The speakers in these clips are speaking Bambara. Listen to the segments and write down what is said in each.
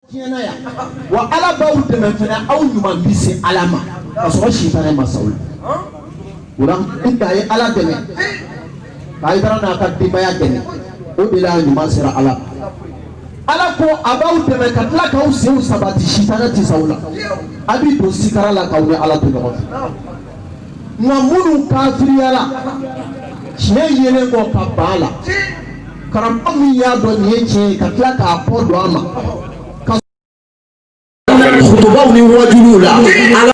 tiɲɛna yan wa ala b'aw dɛmɛ fana aw ɲuman bi se ala ma ka sɔrɔ sitanɛ ma s'aw la o la ni a ye ala dɛmɛ k'a ye taara n'a ka denbaya dɛmɛ o de la ɲuman sera ala ma ala ko a b'aw dɛmɛ ka tila k'aw senw sabati sitanɛ tɛ s'aw la a b'i don sutura la k'aw ni ala to ɲɔgɔn fɛ. nka minnu kafiriyara tiɲɛ yelen kɔ ka ban a la karamɔgɔ min y'a dɔn nin ye tiɲɛ ye ka tila k'a kɔ don a ma a ka kutubaw ni wajuliw la ala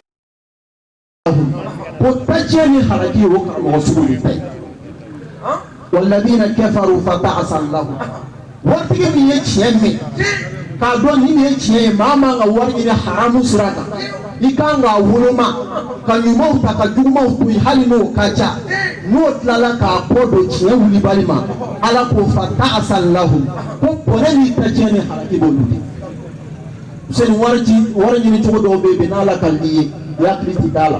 ko ta tiɲɛ ni halaki o karamɔgɔ sugu de ta ye waladiina kafaru fa ta'asan lahum waritigi min ye tiɲɛ mɛn k'a dɔn nin de ye tiɲɛ ye maa man ka wari ɲini haramu sira kan i kan k'a woloma ka ɲumanw ta ka jugumanw to yen hali n'o ka ca n'o tilala k'a kɔ don tiɲɛ wulibali ma ala ko fa ta'asan lahum ko bɔnɛ ni ta tiɲɛ ni halaki b'olu de seni wari ci wari ɲini cogo dɔw bɛ yen bɛn n'ala ka n'i ye i hakili ti d'a la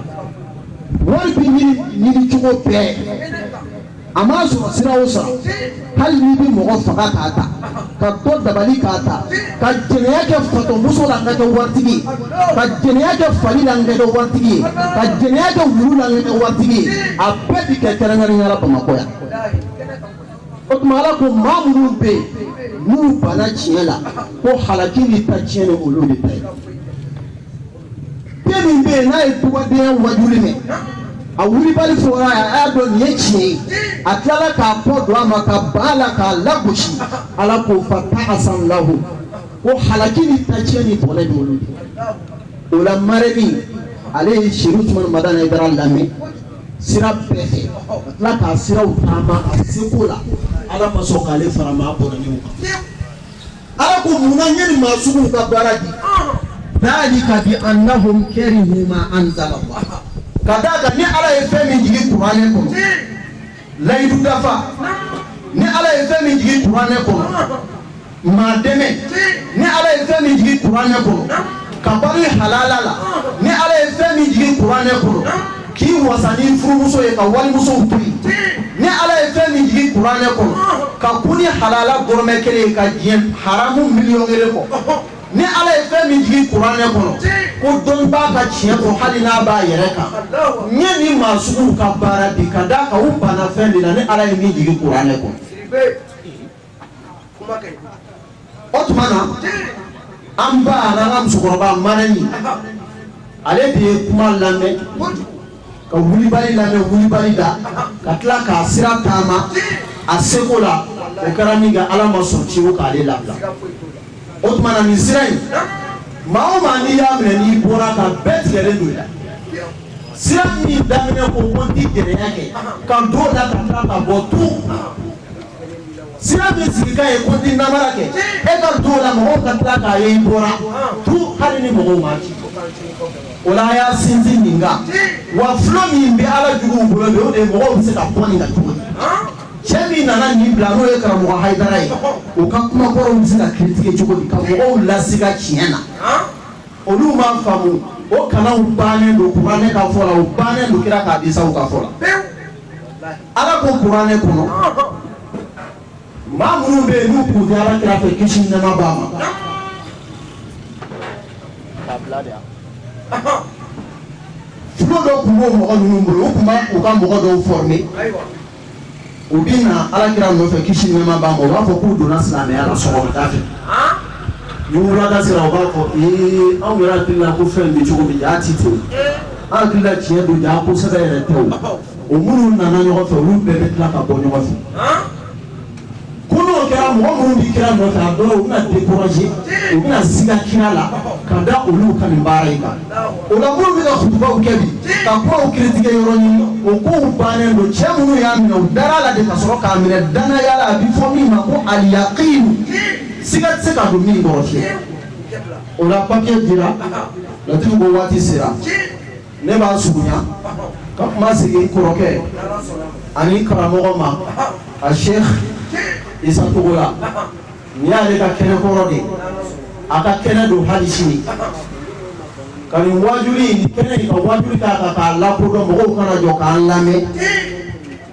wari bi ɲini ɲini cogo bɛɛ a m'a sɔrɔ sira o sira hali n'i bɛ mɔgɔ faga k'a ta ka dɔ dabali k'a ta ka jɛnɛya kɛ fatɔmuso la ka kɛ waritigi ye ka jɛnɛya kɛ fali la ka kɛ waritigi ye ka jɛnɛya kɛ wulu la ka kɛ waritigi ye a bɛɛ bi kɛ kɛrɛnkɛrɛnnenya la Bamakɔ yan o tuma Ala ko maa minnu bɛ yen n'u banna tiɲɛ la ko halaki ni ta tiɲɛni olu de ta ye den min bɛ yen n'a ye dugadenya wajuli mɛn a wulibali fɔra a y'a dɔn nin ye tiɲɛ ye a tilala k'a kɔ don a ma ka ban a la k'a lagosi ala ko fa ta asan lahu ko halaki ni ta tiɲɛ ni bɔnɛ bɛ olu de o la maa min ale ye serifu usumani madani hayidara lamɛn sira bɛɛ fɛ ka tila k'a siraw taama a seko la ala ma sɔn k'ale fara maa bɔnɛnenw kan Ala ko munna n ye nin maa sugu ka baara bin zalika bi annahum karihu ma anzala lahu ka da a kan ni ala ye fɛn min jigin kuranɛ kɔnɔ layidu dafa ni ala ye fɛn min jigin kuranɛ kɔnɔ maa dɛmɛ ni ala ye fɛn min jigin kuranɛ kɔnɔ ka balo halala la ni ala ye fɛn min jigin kuranɛ kɔnɔ K'i wasa n'i furumuso ye ka walimuso to ni ala ye fɛn min jigin kuranɛ kɔnɔ ka kun ni halala dɔrɔmɛ kelen ye ka diɲɛ haramu miliyɔn kelen kɔ ni ala ye fɛn min jigin kuranɛ kɔnɔ kodɔnbaa ka tiɲɛ fɔ hali n'a b'a yɛrɛ kan n ye nin maa sugu ka baara bin ka da a kan u banna fɛn de la ni ala ye min jigin kuranɛ kɔnɔ o tuma na an ba an ka musokɔrɔba mara in ale de ye kuma lamɛn ka wulibali lamɛn wulibali da ka tila k'a sira taama a seko la o kɛra min kɛ ala ma sɔn ci o k'ale labila o tuma na nin sira in maa o maa n'i y'a minɛ n'i bɔra ka bɛɛ tigɛlen don i la sira min daminɛ ko ko n ti jɛnɛya kɛ ka don o la ka tila ka bɔ tun sira min sigikan ye ko n tɛ namara kɛ e ka to o la mɔgɔw ka tila k'a ye i bɔra tun hali ni mɔgɔw ma ci o la a y'a sinsin nin kan wa fulo min bɛ ala juguw bolo bi o de mɔgɔw bɛ se ka bɔ nin kan cogo di cɛ min nana nin bila n'o ye karamɔgɔ hayidara ye o ka kumakɔrɔw bɛ se ka critiquer cogo di ka mɔgɔw lasiga tiɲɛ na olu ma faamu o kanaw bannen don kuranɛ ka fɔ la o bannen don kira ka hadisaw ka fɔ la ala ko kuranɛ kɔnɔ maa minnu bɛ yen n'u tun tɛ ala kira fɛ kisi ni nɛɛma b'a ma fulo dɔ tun b'o mɔgɔ ninnu bolo u tun bɛ u ka mɔgɔ dɔw former u bɛ na ala kira nɔfɛ kisi ni nɛɛma b'a ma u b'a fɔ k'u donna silamɛya la sɔgɔmada fɛ ni wulada sera u b'a fɔ ee anw yɛrɛ hakili la ko fɛn bɛ cogo min jaa ti ten an hakili la tiɲɛ don jaa ko sɛbɛ yɛrɛ tɛ o o minnu nana ɲɔgɔn fɛ olu bɛɛ bɛ tila ka bɔ ɲɔgɔn fɛ ko n'o kɛra mɔgɔ minnu bɛ kira nɔfɛ a dɔw u bɛna découragé u bɛna siga kira la ka da olu ka nin baara in kan o la minnu bɛ ka kutubaw kɛ bi ka kumaw critiquer yɔrɔ ɲini o kow bannen don cɛ minnu y'a minɛ u dara la de ka sɔrɔ k'a minɛ danaya la a bɛ fɔ min ma ko aliyaqin siga tɛ se ka don min kɔrɔ fiyewu o la papier dira laturu ko waati sera ne b'a surunya ka kuma segin n kɔrɔkɛ ani karamɔgɔ ma asɛki isa togola nin y'ale ka kɛnɛ kɔrɔ de a ka kɛnɛ don hali sini ka nin wajuli kɛnɛ in ka wajuli ta ka k'a lakodɔn mɔgɔw ka na jɔ k'a lamɛn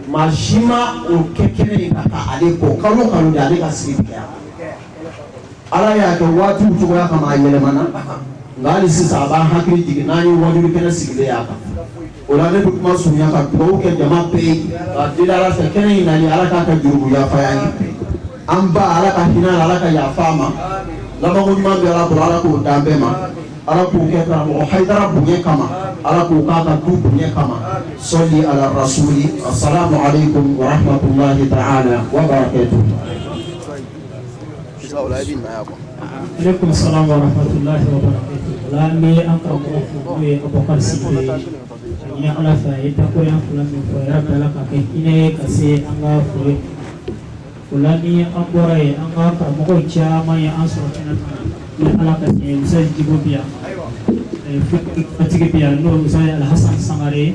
maa si ma o kɛ kɛnɛ in kan ale kɔ kalo kalo ale ka sigi ala y'a kɛ waatiw cogoya kama a yɛlɛmana nka hali sisan a b'an hakili jigin n'an ye wajuli kɛnɛ sigilen y'a kan o la ne bɛ kuma surunya ka dugawu kɛ jama bɛɛ ye k'a deli ala fɛ kɛnɛ in nali ala k'a ka jurumu yafa a ye an ba ala ka hinɛ a la ala ka yafa a ma labanko ɲuman bɛ ala bolo ala k'o d'an bɛɛ ma ala k'o kɛ karamɔgɔ hayidara bonya kama ala k'o k'a ka du bonya kama sali ala rasuli asalamu aleykum wa rahmatulahi ta'ala wa barakatuhu aleykum salaam wa rahmatulahi wa barakatuh ala n bɛ an karamɔgɔ fo n'o ye abubakar sise ye n ye ala fɛ a ye dakurunɲɛ fila min fɔ yɛrɛ bɛɛ ala k'a kɛ hinɛ ye ka se an ka furew la ni an bɔra yen an ka karamɔgɔw caman ye an sɔrɔ kɛnɛ kan ni ala ka tiɲɛ musa jibo bi yan fɛntigi bi yan n'o musa ye alhasan sangare ye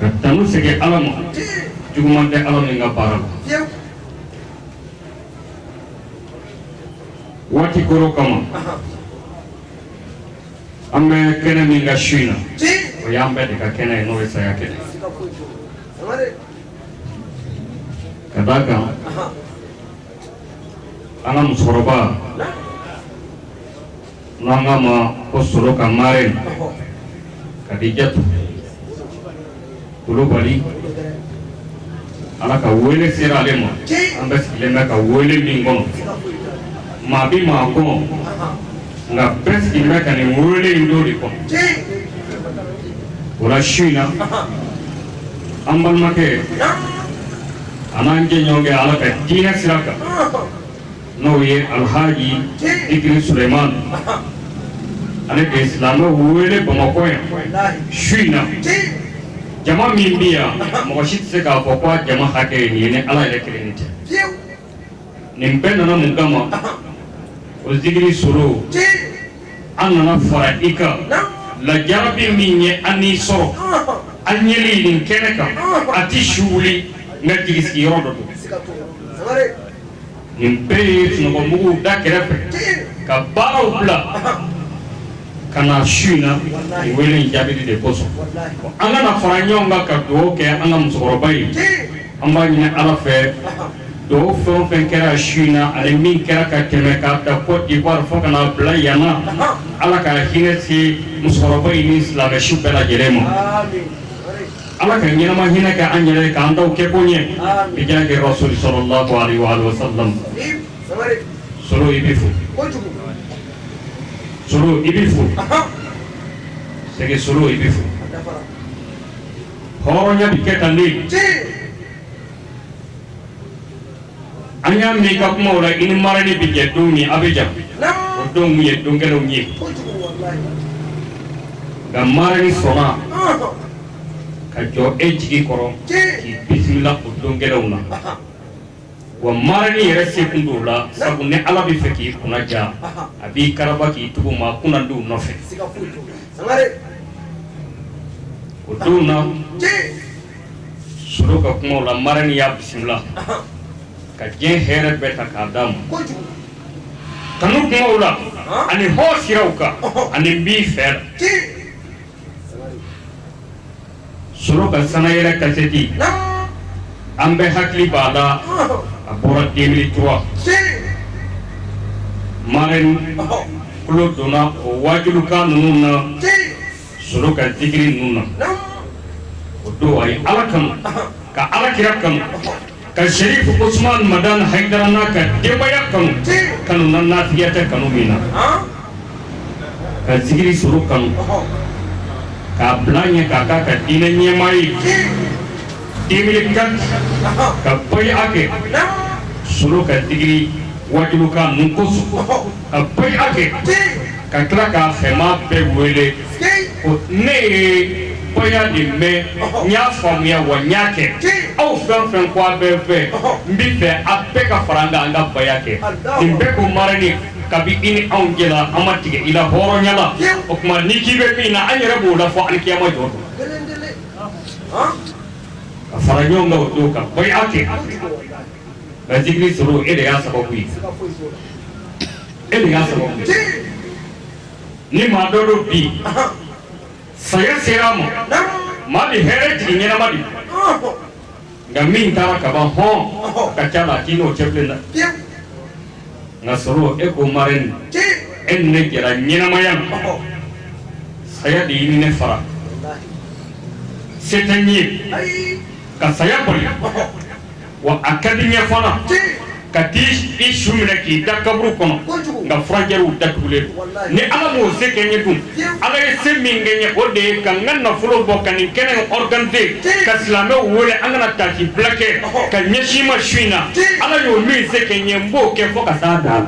ka tanu segin ala ma juguman tɛ ala min ka baara la waati kɔrɔ kama an bɛ kɛnɛ min kan su in na o y'an bɛɛ de ka kɛnɛ ye n'o ye saya kɛnɛ ka d'a kan an ka musokɔrɔba N'an k'a ma ko solo ka marɛni kadijatu kulubali ala ka wele sera ale ma an bɛɛ sigilen bɛ ka wele min kɔnɔ maa bɛ maa kɔnɔ nka bɛɛ sigilen bɛ ka nin wele in don de kɔnɔ o la su in na an balimakɛ an'an jɛɲɔgɔnkɛ ala ka diinɛ sira kan n'o ye alhaji zikiri suleyimani ale de ye silamɛw wele bamakɔ yan su in na jama min bɛ yan mɔgɔ si tɛ se k'a fɔ ko jama hakɛ ye nin ye ni ala yɛrɛ kelen tɛ nin bɛɛ nana mun kama o zikiri solo an nana fara i kan lajarabi min ye an n'i sɔrɔ an yeli nin kɛnɛ kan a tɛ su wuli nka jigi sigiyɔrɔ dɔ don nin bɛɛ ye sunɔgɔbugu da kɛrɛfɛ ka baaraw bila ka na su in na i wele in jaabili de kosɔn an ka na fara ɲɔgɔn kan ka dugawu kɛ an ka musokɔrɔba ye an b'a ɲini ala fɛ dugawu fɛn o fɛn kɛra su in na ani min kɛra ka tɛmɛ k'a ta kɔdiwari fo ka na bila yan na ala ka hinɛ se musokɔrɔba in ni silamɛ su bɛɛ lajɛlen ma ala ka ɲɛnama hinɛ kɛ an ye ala k'an tɔw kɛko ɲɛ bi jaahi rasuli salalahu aleyhi wa salam solo i bɛ fo solo i bɛ fo sɛgɛ solo i bɛ fo hɔrɔnya bɛ kɛ tan le an y'a mɛn i ka kumaw la i ni marɛni bɛ jɛ don min a bɛ jan o donw ye don gɛlɛnw ye nka marɛni sɔnna ka jɔ e jigi kɔrɔ k'i bisimila o don gɛlɛnw na wa marɛni yɛrɛ se kun don la sabu ni ala b'a fɛ k'i kunna diya a b'i karaba k'i tugu maa kunnandiw nɔfɛ o don na solo ka kumaw la marɛni y'a bisimila ka diɲɛ hɛrɛ bɛɛ ta k'a d'a ma kanu kumaw la ani hɔ siraw kan ani n b'i fɛ la solo ka sanayɛrɛ kasɛti an bɛɛ hakili b'a la a bɔra 2003 marɛni tulo donna o wajulikan ninnu na solo ka zikiri ninnu na o don a ye ala kanu ka ala kira kanu ka serifu usumani madani hayidara n'a ka denbaya kanu kanu nafigiya tɛ kanu min na ka zikiri solo kanu k'a bila ɲɛ k'a kɛ a ka diinɛ ɲɛmaa ye 2004 ka baya kɛ solo ka zikiri wajulikan ninnu kosɔn Ka baya kɛ ka tila k'a fɛmaa bɛɛ wele ne ye baya in mɛn n y'a faamuya wa n y'a kɛ aw fɛn fɛn ko i bɛ n fɛ n b'a fɛ a bɛɛ ka fara n kan an ka baya kɛ nin bɛɛ ko marɛni kabini an jɛra an ma tigɛ i la hɔrɔnya la o tuma n'i ko i bɛ min na an yɛrɛ b'o la fo alikiyama jɔ ka fara ɲɔgɔn kan o don ka baya kɛ Nka zikiri solo e de y'a sababu ye e de y'a sababu ye ni maa dɔ don bi saya sera ma maa bɛ hɛrɛ jigin ɲɛnama de nka min taara ka ban hɔn a ka ca a la k'i n'o cɛ bilen la nka solo e ko marɛni e ni ne jɛra ɲɛnamaya ma saya de y'i ni ne fara se tɛ n ye ka saya bali wa a ka di n ye fana ka taa i su minɛ k'i da kaburu kɔnɔ nka frontièrew da tugulen de ala m'o se kɛ n ye dun ala ye se min kɛ n ye o de ye ka n ka nafolo bɔ ka nin kɛnɛ organiser ka silamɛw wele an ka na taasibila kɛ ka ɲɛsin ma su in na ala y'o min se kɛ n ye n b'o kɛ fo ka taa da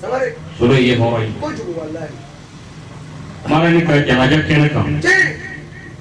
la solo ye hɔrɔn ye marɛni ka jalaja kɛnɛ kan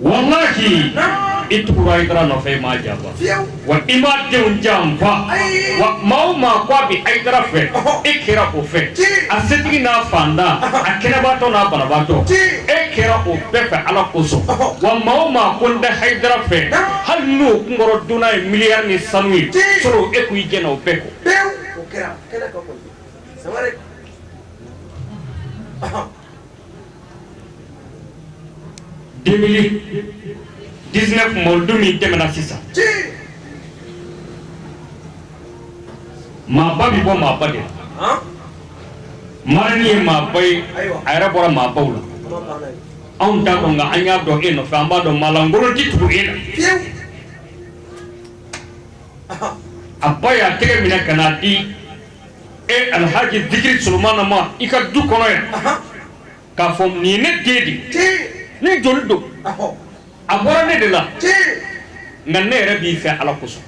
walahi i tugura hayidara nɔfɛ i m'a janfa wa i m'a denw janfa wa maa o maa ko a bɛ hayidara fɛ e kɛra o fɛ a setigi n'a fantan a kɛnɛbaatɔ n'a banabaatɔ e kɛra o bɛɛ fɛ ala kosɔn wa maa o maa ko n tɛ hayidara fɛ hali n'o kunkɔrɔ donna ye miliyari ni sanu ye solo e ko i jɛnna o bɛɛ kɔ 2019 mawuludu min tɛmɛna sisan maaba bɛ bɔ maaba de la marani ye maaba ye a yɛrɛ bɔra maabaw la anw t'a dɔn nka an y'a dɔn e nɔfɛ an b'a dɔn maalankolon tɛ tugu e la a ba y'a tɛgɛ minɛ ka n'a di e alhaji zikiri solomana ma i ka du kɔnɔ yan k'a fɔ nin ye ne den de ne joli don a bɔra ne de la nka ne yɛrɛ b'i fɛ ala kosɔn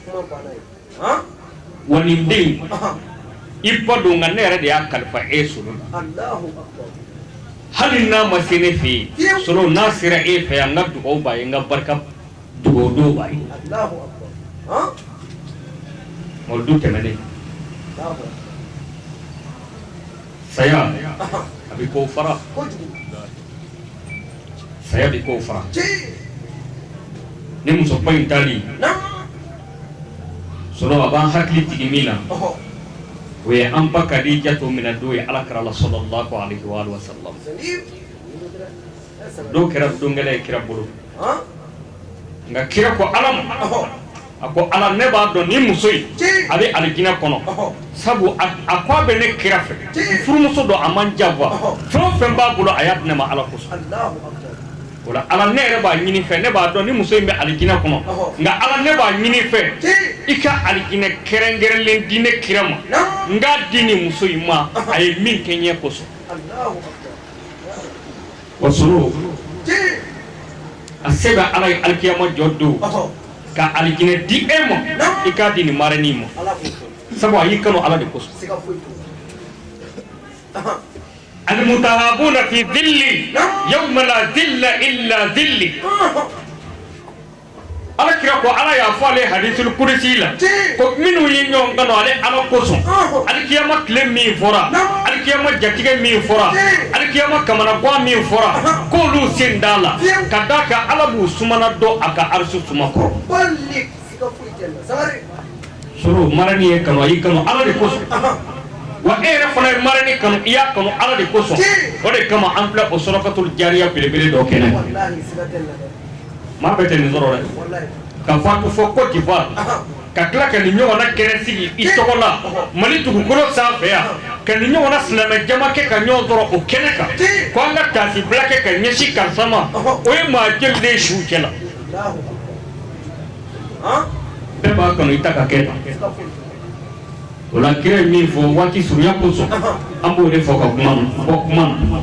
wa nin den i ba don nka ne yɛrɛ de y'a kalifa e solo la hali n'a ma se ne fɛ yen solo n'a sera e fɛ yan n ka dugawu b'a ye n ka barika Dugawu b'a ye mawuludu tɛmɛnen saya a bɛ ko fara saya bɛ ko fara ni musoba in taali solo a b'an hakili jigin min na o ye an ba kadijatu minɛ don ye ala kira la salalahu alayihi wa alihi wa salamu don kɛra don gɛlɛn ye kira bolo nka kira ko ala ma a ko ala ne b'a dɔn ni muso in a bɛ alijinɛ kɔnɔ sabu a ko a bɛ ne kira fɛ n furumuso don a ma n janfa fɛn o fɛn b'a bolo a y'a di ne ma ala kosɔn o la ala ne yɛrɛ b'a ɲini i fɛ ne b'a dɔn ni muso in bɛ alijinɛ kɔnɔ nka ala ne b'a ɲini i fɛ i ka alijinɛ kɛrɛnkɛrɛnlen di ne kira ma n k'a di ni muso in ma a ye min kɛ n ye kosɔn Wa solo a se bɛ ala ye alikiyama jɔ don ka alijinɛ di e ma i k'a di nin marani ma sabu a y'i kanu ala de kosɔn alimutahabuna fi dili yawuma la dila ila dili ala kira ko ala y'a fɔ ale hadisul kudusi la ko minnu ye ɲɔgɔn kanu ale ala kosɔn alikiyama tile min fɔra alikiyama jatigɛ min fɔra alikiyama kamanagan min fɔra k'olu sen t'a la ka d'a kan ala b'u sumana dɔ a ka arisu suma kɔrɔ solo marani y'i kanu a y'i kanu ala de kosɔn wa e yɛrɛ fana ye marani kanu i y'a kanu ala de kosɔn o de kama an filɛ o sadakatul jariya belebele dɔ kɛnɛ Maa bɛɛ tɛ nin sɔrɔ dɛ ka faatu fɔ Cote d'Ivoire ka tila ka nin ɲɔgɔnna kɛnɛ sigi i tɔgɔ la Mali dugukolo sanfɛ yan ka nin ɲɔgɔnna silamɛ jama kɛ ka ɲɔgɔn sɔrɔ o kɛnɛ kan ko an ka taasibila kɛ ka ɲɛsin karisa ma o ye maa joli de ye suw cɛ la bɛɛ b'a kanu i ta ka kɛ tan o la kira ye min fɔ waati surunya kosɔn an b'o de fɔ ka kuma bɔ kuma na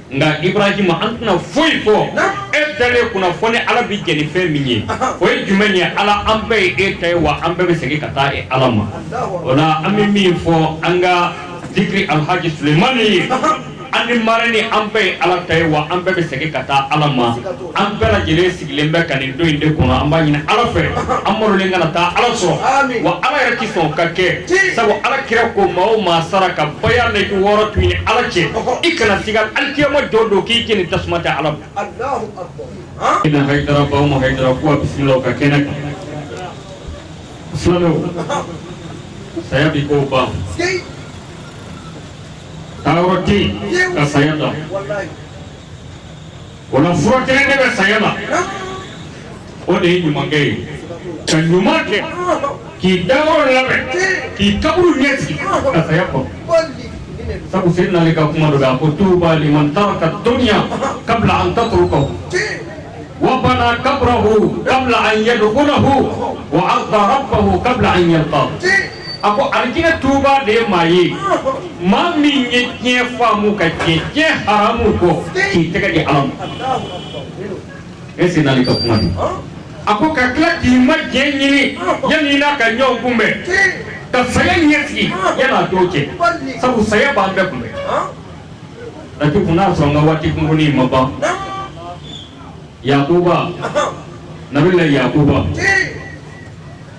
nka ibrahima an tɛna foyi fɔ e dalen kunna fo ni ala bɛ jɛn ni fɛn min ye o ye jumɛn ye ala an bɛɛ ye e ta ye wa an bɛɛ bɛ segin ka taa e ala ma o la an bɛ min fɔ an ka diki alhaji sulemani ye an ni mara ni an bɛɛ ye ala ta ye wa an bɛɛ bɛ segin ka taa ala ma an bɛɛ lajɛlen sigilen bɛ ka nin don in de kɔnɔ an b'a ɲini ala fɛ an malolen kana taa ala sɔrɔ wa ala yɛrɛ tɛ sɔn k'a kɛ sabu ala kira ko maa o maa sara ka baya na i wɔɔrɔ to i ni ala cɛ i kana siga alikiyama jɔ don k'i jeni tasuma tɛ ala ina haidara baw ma haidara ko a bisimila ka kɛnɛ kan silamɛw saya bi k'o ban taa yɔrɔ tɛ yen ka saya dan O la fura kelen de bɛ saya la o de ye ɲumankɛ ye ka ɲuman kɛ k'i dayɔrɔ labɛn k'i kaburu ɲɛsigi ka saya kɔnɔ sabu Seydina Ali ka kuma don a ko tuuba liman taraka dunya kabla an tatrukahu wa bana kabrahu kabla an yadkhulahu wa arda rabbahu kabla an yalqahu a ko alijinɛ tuba de ye maa ye maa min ye diɲɛ faamu ka jɛn diɲɛ haramu kɔ k'i tɛgɛ di ala ma e seydina ali ka kuma don a ko ka tila k'i ma diyanye ɲini yanni i n'a ka ɲɔgɔn kunbɛn ka saya ɲɛsigi yanni a don cɛ sabu saya b'an bɛɛ kunbɛn lati fo n'a sɔrɔ an ka waati kunkurunin ma ban yakuba nabila yakuba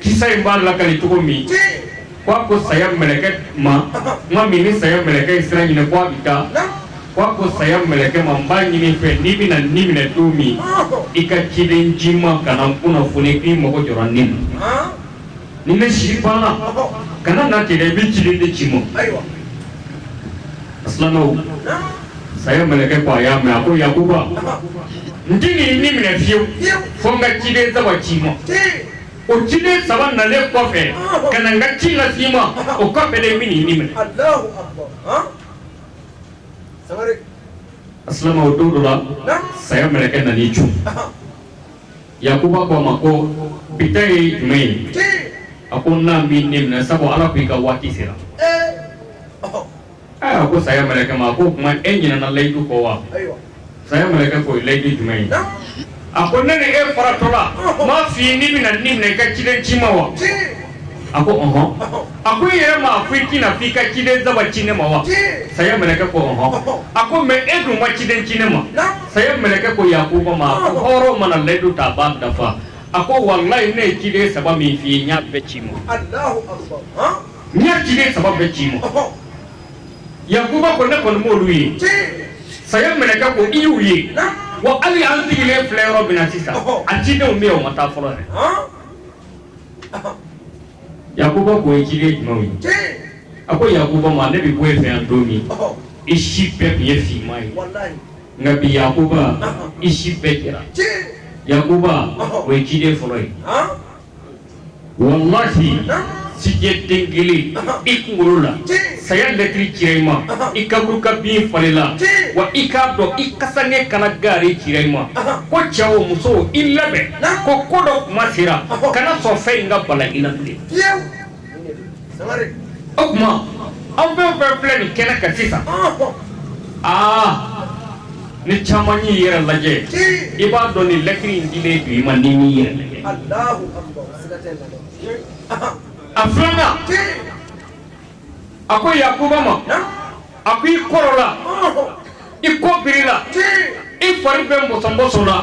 Kisa in b'a lakali cogo min ko a ko saya mɛlɛkɛ ma ma min ni saya mɛlɛkɛ in sira ɲini k'a bɛ taa ko a ko saya mɛlɛkɛ ma n b'a ɲini i fɛ n'i bɛna n ni minɛ don min i ka ciden ci n ma ka na n kunnafoni k'i mɔgɔ jɔ ni ma ni bɛ si banna kana na tigɛ i bɛ ciden ci n ma filanan saya mɛlɛkɛ ko a y'a mɛn a ko yakuba n t'i ni minɛ fiyewu fo n ka ciden saba ci i ma o ciden saba nalen kɔfɛ ka na n ka ci lase i ma o kɔfɛ de n bɛna i ni minɛ Alahu akibaru han sangare asilama o don dɔ la naam saya mɛlɛkɛ nana i cun ahan yakuba ko a ma ko bi ta ye jumɛn ye tii a ko n na n b'i ni minɛ sabu ala ko i ka waati sera ee ɔhɔ Ee a ko saya mɛlɛkɛ ma ko o tuma e ɲinɛna layidu kɔ wa saya mɛlɛkɛ ko layidu jumɛn ye a ko ne ni e faratɔ la n m'a fɔ n'i bɛna n ni minɛ i ka ciden ci n ma wa a ko ɔɔn a ko i yɛrɛ ma ko i tɛ na fo i ka ciden saba ci ne ma wa saya mɛlɛkɛ ko ɔɔn a ko mɛ e dun ma ciden ci ne ma saya mɛlɛkɛ ko yakuba ma a ko hɔrɔn mana layidu ta a b'a dafa a ko wala ne ye ciden saba min fɔ i ye n y'a bɛɛ ci i ma N ye ciden saba bɛɛ ci i ma yakuba ko ne kɔni m'olu ye saya mɛlɛkɛ ko i y'u ye wa hali an sigilen filɛ yɔrɔ min na sisan a cidenw bɛ o ma taa fɔlɔ dɛ yakuba k'o ye ciden jumɛnw ye a ko yakuba ma ne bɛ bɔ i fɛ yan don min i si bɛɛ tun ye finman ye nka bi yakuba i si bɛɛ jɛra yakuba o ye ciden fɔlɔ ye Walahi sijɛ den kelen i kunkolo la saya lɛtiri cira i ma i kaburu ka bin falenna wa i k'a dɔn i kasanke kala gaari cira i ma ko cɛ o muso i labɛn ko ko dɔ tuma sera kana sɔn fɛn in ka bala i la o tuma aw fɛn o fɛn filɛ nin kɛnɛ kan sisan aa ni caman y'i yɛrɛ lajɛ i b'a dɔn nin lɛtiri in dilen don i ma n'i m'i yɛrɛ lajɛ a filanan a ko yakuba ma a ko i kɔrɔla i kɔ birila i fari bɛɛ mɔsɔnmɔsɔnna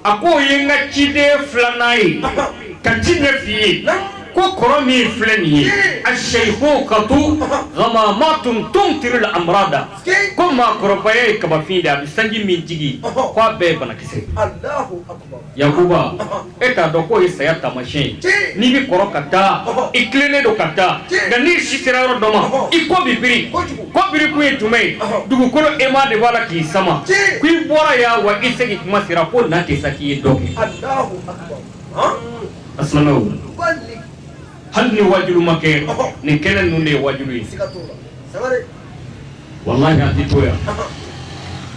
a ko o ye n ka ciden filanan ye ka tiɲɛ f'i ye ko kɔrɔ min filɛ nin ye a seyihokatu gamamatun tumtiru la amrada ko maakɔrɔbaya ye kabafin de a bɛ sanji min jigi ko a bɛɛ ye banakisɛ yakuba e t'a dɔn k'o ye saya taamasiyɛn ye n'i bɛ kɔrɔ ka taa i tilennen don ka taa nka n'i si sera yɔrɔ dɔ ma i kɔ bɛ biri Ko birikun ye jumɛn ye dugukolo aimant de b'a la k'i sama ko i bɔra yan wa i segin tuma sera ko na tɛ sa k'i ye dɔn kɛ a hali ni waajulu ma kɛ nin kɛnɛ ninnu de ye waajulu ye walahi an tɛ to yan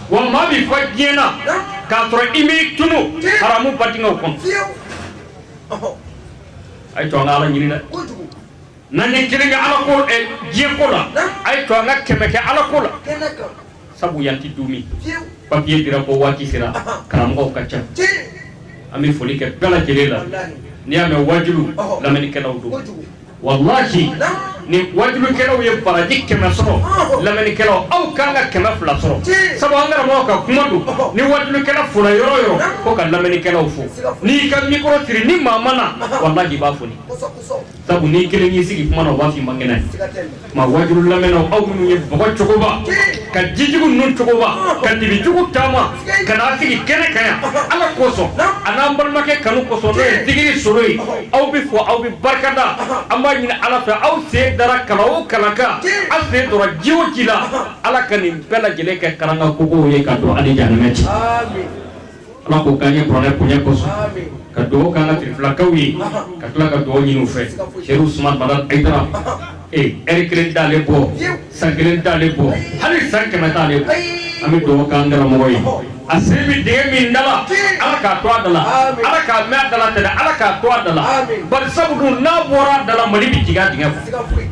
wa maa min fɔ diɲɛ na k'a sɔrɔ i b'i tunu haramu ba denkɛ kɔnɔ a y'a to an ka ala ɲini dɛ N'an ye kelen kɛ Ala ko ɛ diɲɛ ko la naam a y'a to an ka kɛmɛ kɛ Ala ko la kɛnɛ kan sabu yan tɛ duumɛ fiyew papier dira ko waati sera ɔhɔɔ karamɔgɔw ka ca cii an bɛ foli kɛ bɛɛ lajɛlen la walahi n'i y'a mɛn waajulu ɔhɔɔ lamɛnnikɛlaw don kojugu walahi naam ni wajulukɛlaw ye baraji kɛmɛ sɔrɔ ɔhɔɔ lamɛnnikɛlaw aw ka kan ka kɛmɛ fila sɔrɔ cii sabu an karamɔgɔ ka kuma don ɔhɔɔ ni wajulukɛla fora yɔrɔ o yɔrɔ naam fo ka lamɛnnikɛlaw fo siga foyi n'i y'i ka mikɔrɔ siri ni maa ma na walahi i b'a foni kosɔn kosɔn Sabu ni kelen y'i sigi kuma na u b'a fɔ i man kɛnɛ, siga t'a la, maa waajulu lamɛnnaw aw minnu ye bɔgɔ cogoba, ka jijugu ninnu cogoba, ka dibijugu taama ka na sigi kɛnɛ kan yan Ala kosɔn a n'an balimakɛ kanu kosɔn n'o ye Zikiri Solo ye, aw bɛ fo aw bɛ barikada an b'a ɲini Ala fɛ aw sen dara kala o kala kan aw sen donna ji o ji la Ala ka nin bɛɛ lajɛlen kɛ kalan kan kogow ye ka don aw ni jahanɛmɛ cɛ, aami Ala k'o k'an ye kuranɛ bonya kosɔn ka dugawu k'an ka sirifilakaw ye ka tila ka dugawu ɲini u fɛ Serifu Usumani Madani Ayidara ee ɛri kelen t'ale bɔ san kelen t'ale bɔ hali san kɛmɛ t'ale bɔ an bɛ dugawu k'an karamɔgɔ ye a sen bɛ dingɛ min da la Ala k'a to a da la Ala k'a mɛɛn a da la tɛnɛ Ala k'a to a da la bari sabu dun n'a bɔra a da la Mali bɛ jigin a dingɛ kɔnɔ.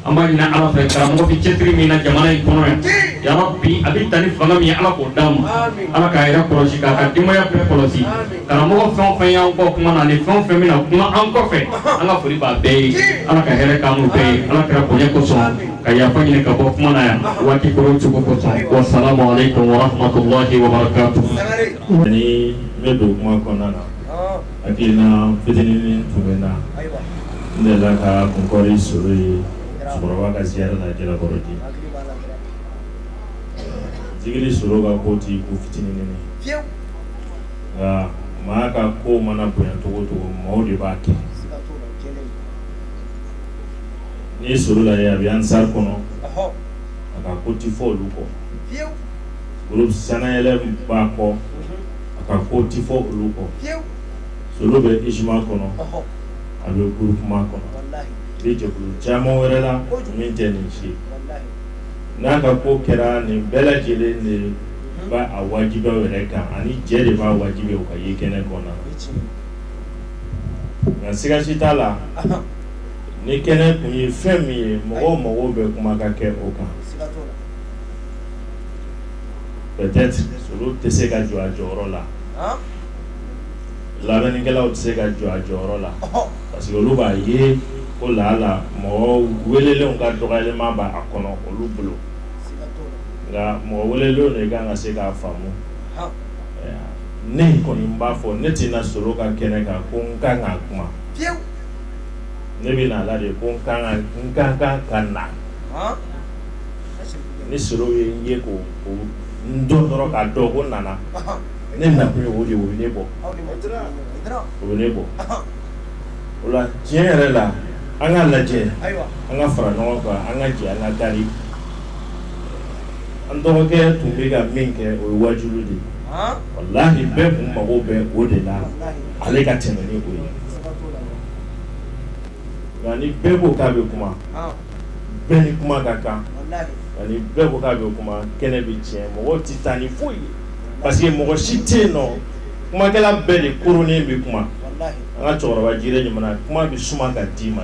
an b'a ɲini ala fɛ karamɔgɔ bɛ cɛsiri min na jamana in kɔnɔ yan yɔrɔ bi a bɛ ta ni fanga min ye ala k'o d'a ma ala k'a yɛrɛ kɔlɔsi k'a ka denbaya bɛɛ kɔlɔsi karamɔgɔ fɛn o fɛn y'an kɔn kuma na ani fɛn o fɛn bɛna kuma an kɔfɛ an ka foli b'a bɛɛ ye ala ka hɛrɛ k'an n'u bɛɛ ye ala kira bonya kosɔn ka yafa ɲini ka bɔ kuma na yan waati koro cogo kosɔn wa salamu aleykum wa rahmatulahi wa barakatu. ni n bɛ don kuma kɔnɔna na. hakilina fitinin tun bɛ na ne la ka kunɔri solo ye cɛkɔrɔba ka ziyara la jalakɔrɔji zikiri solo ka ko tɛ ko fitinin nka maa ka ko mana bonya cogo cogo maaw de b'a kɛ n'i ye solo lajɛ a bɛ ansari kɔnɔ a ka ko tɛ fɔ olu kɔ olu sanyɛlɛ b'a kɔ a ka ko tɛ fɔ olu kɔ solo bɛ isima kɔnɔ a bɛ gurupuman kɔnɔ a bɛ jɛkulu caman wɛrɛ la min tɛ nin si n'a ka ko kɛra nin bɛɛ lajɛlen de b'a wajibiya a yɛrɛ kan ani jɛ de b'a wajibiya u ka ye kɛnɛ kɔnɔ nka sigasi t'a la nin kɛnɛ kun ye fɛn min ye mɔgɔw mɔgɔw bɛ kuma ka kɛ o kan tɛ se ka jɔ a jɔyɔrɔ la lamɛnnikɛlaw tɛ se ka jɔ a jɔyɔrɔ la parce que olu b'a ye ko lala mɔgɔ welelenw ka dɔgɔyalen b'a kɔnɔ olu bolo nka mɔgɔ welelenw de ka kan ka se k'a faamu ne kɔni b'a fɔ ne tɛ na solo ka kɛnɛ kan ko n ka kan ka kuma ne bɛ na a la de ko n ka kan ka na ni solo ye n ye ko n don dɔrɔn k'a dɔn ko n nana ne na ye o de ne bɔ o ne bɔ o la tiɲɛ yɛrɛ la an ka lajɛ an ka fara ɲɔgɔn kan an ka jɛ an ka da an dɔgɔkɛ tun bɛ ka min kɛ o ye waju de walayi bɛɛ tun mago bɛ o de la ale ka tɛmɛ o ye nka ni bɛɛ ko k'a bɛ kuma bɛɛ ni kuma ka kan ani bɛɛ ko k'a bɛ kuma kɛnɛ bɛ tiɲɛ mɔgɔ tɛ taa ni foyi ye parce que mɔgɔ si tɛ yen nɔ kumakɛla bɛɛ de koronnen bɛ kuma an ka cɛkɔrɔba jire ɲuman kuma bɛ suma ka d'i ma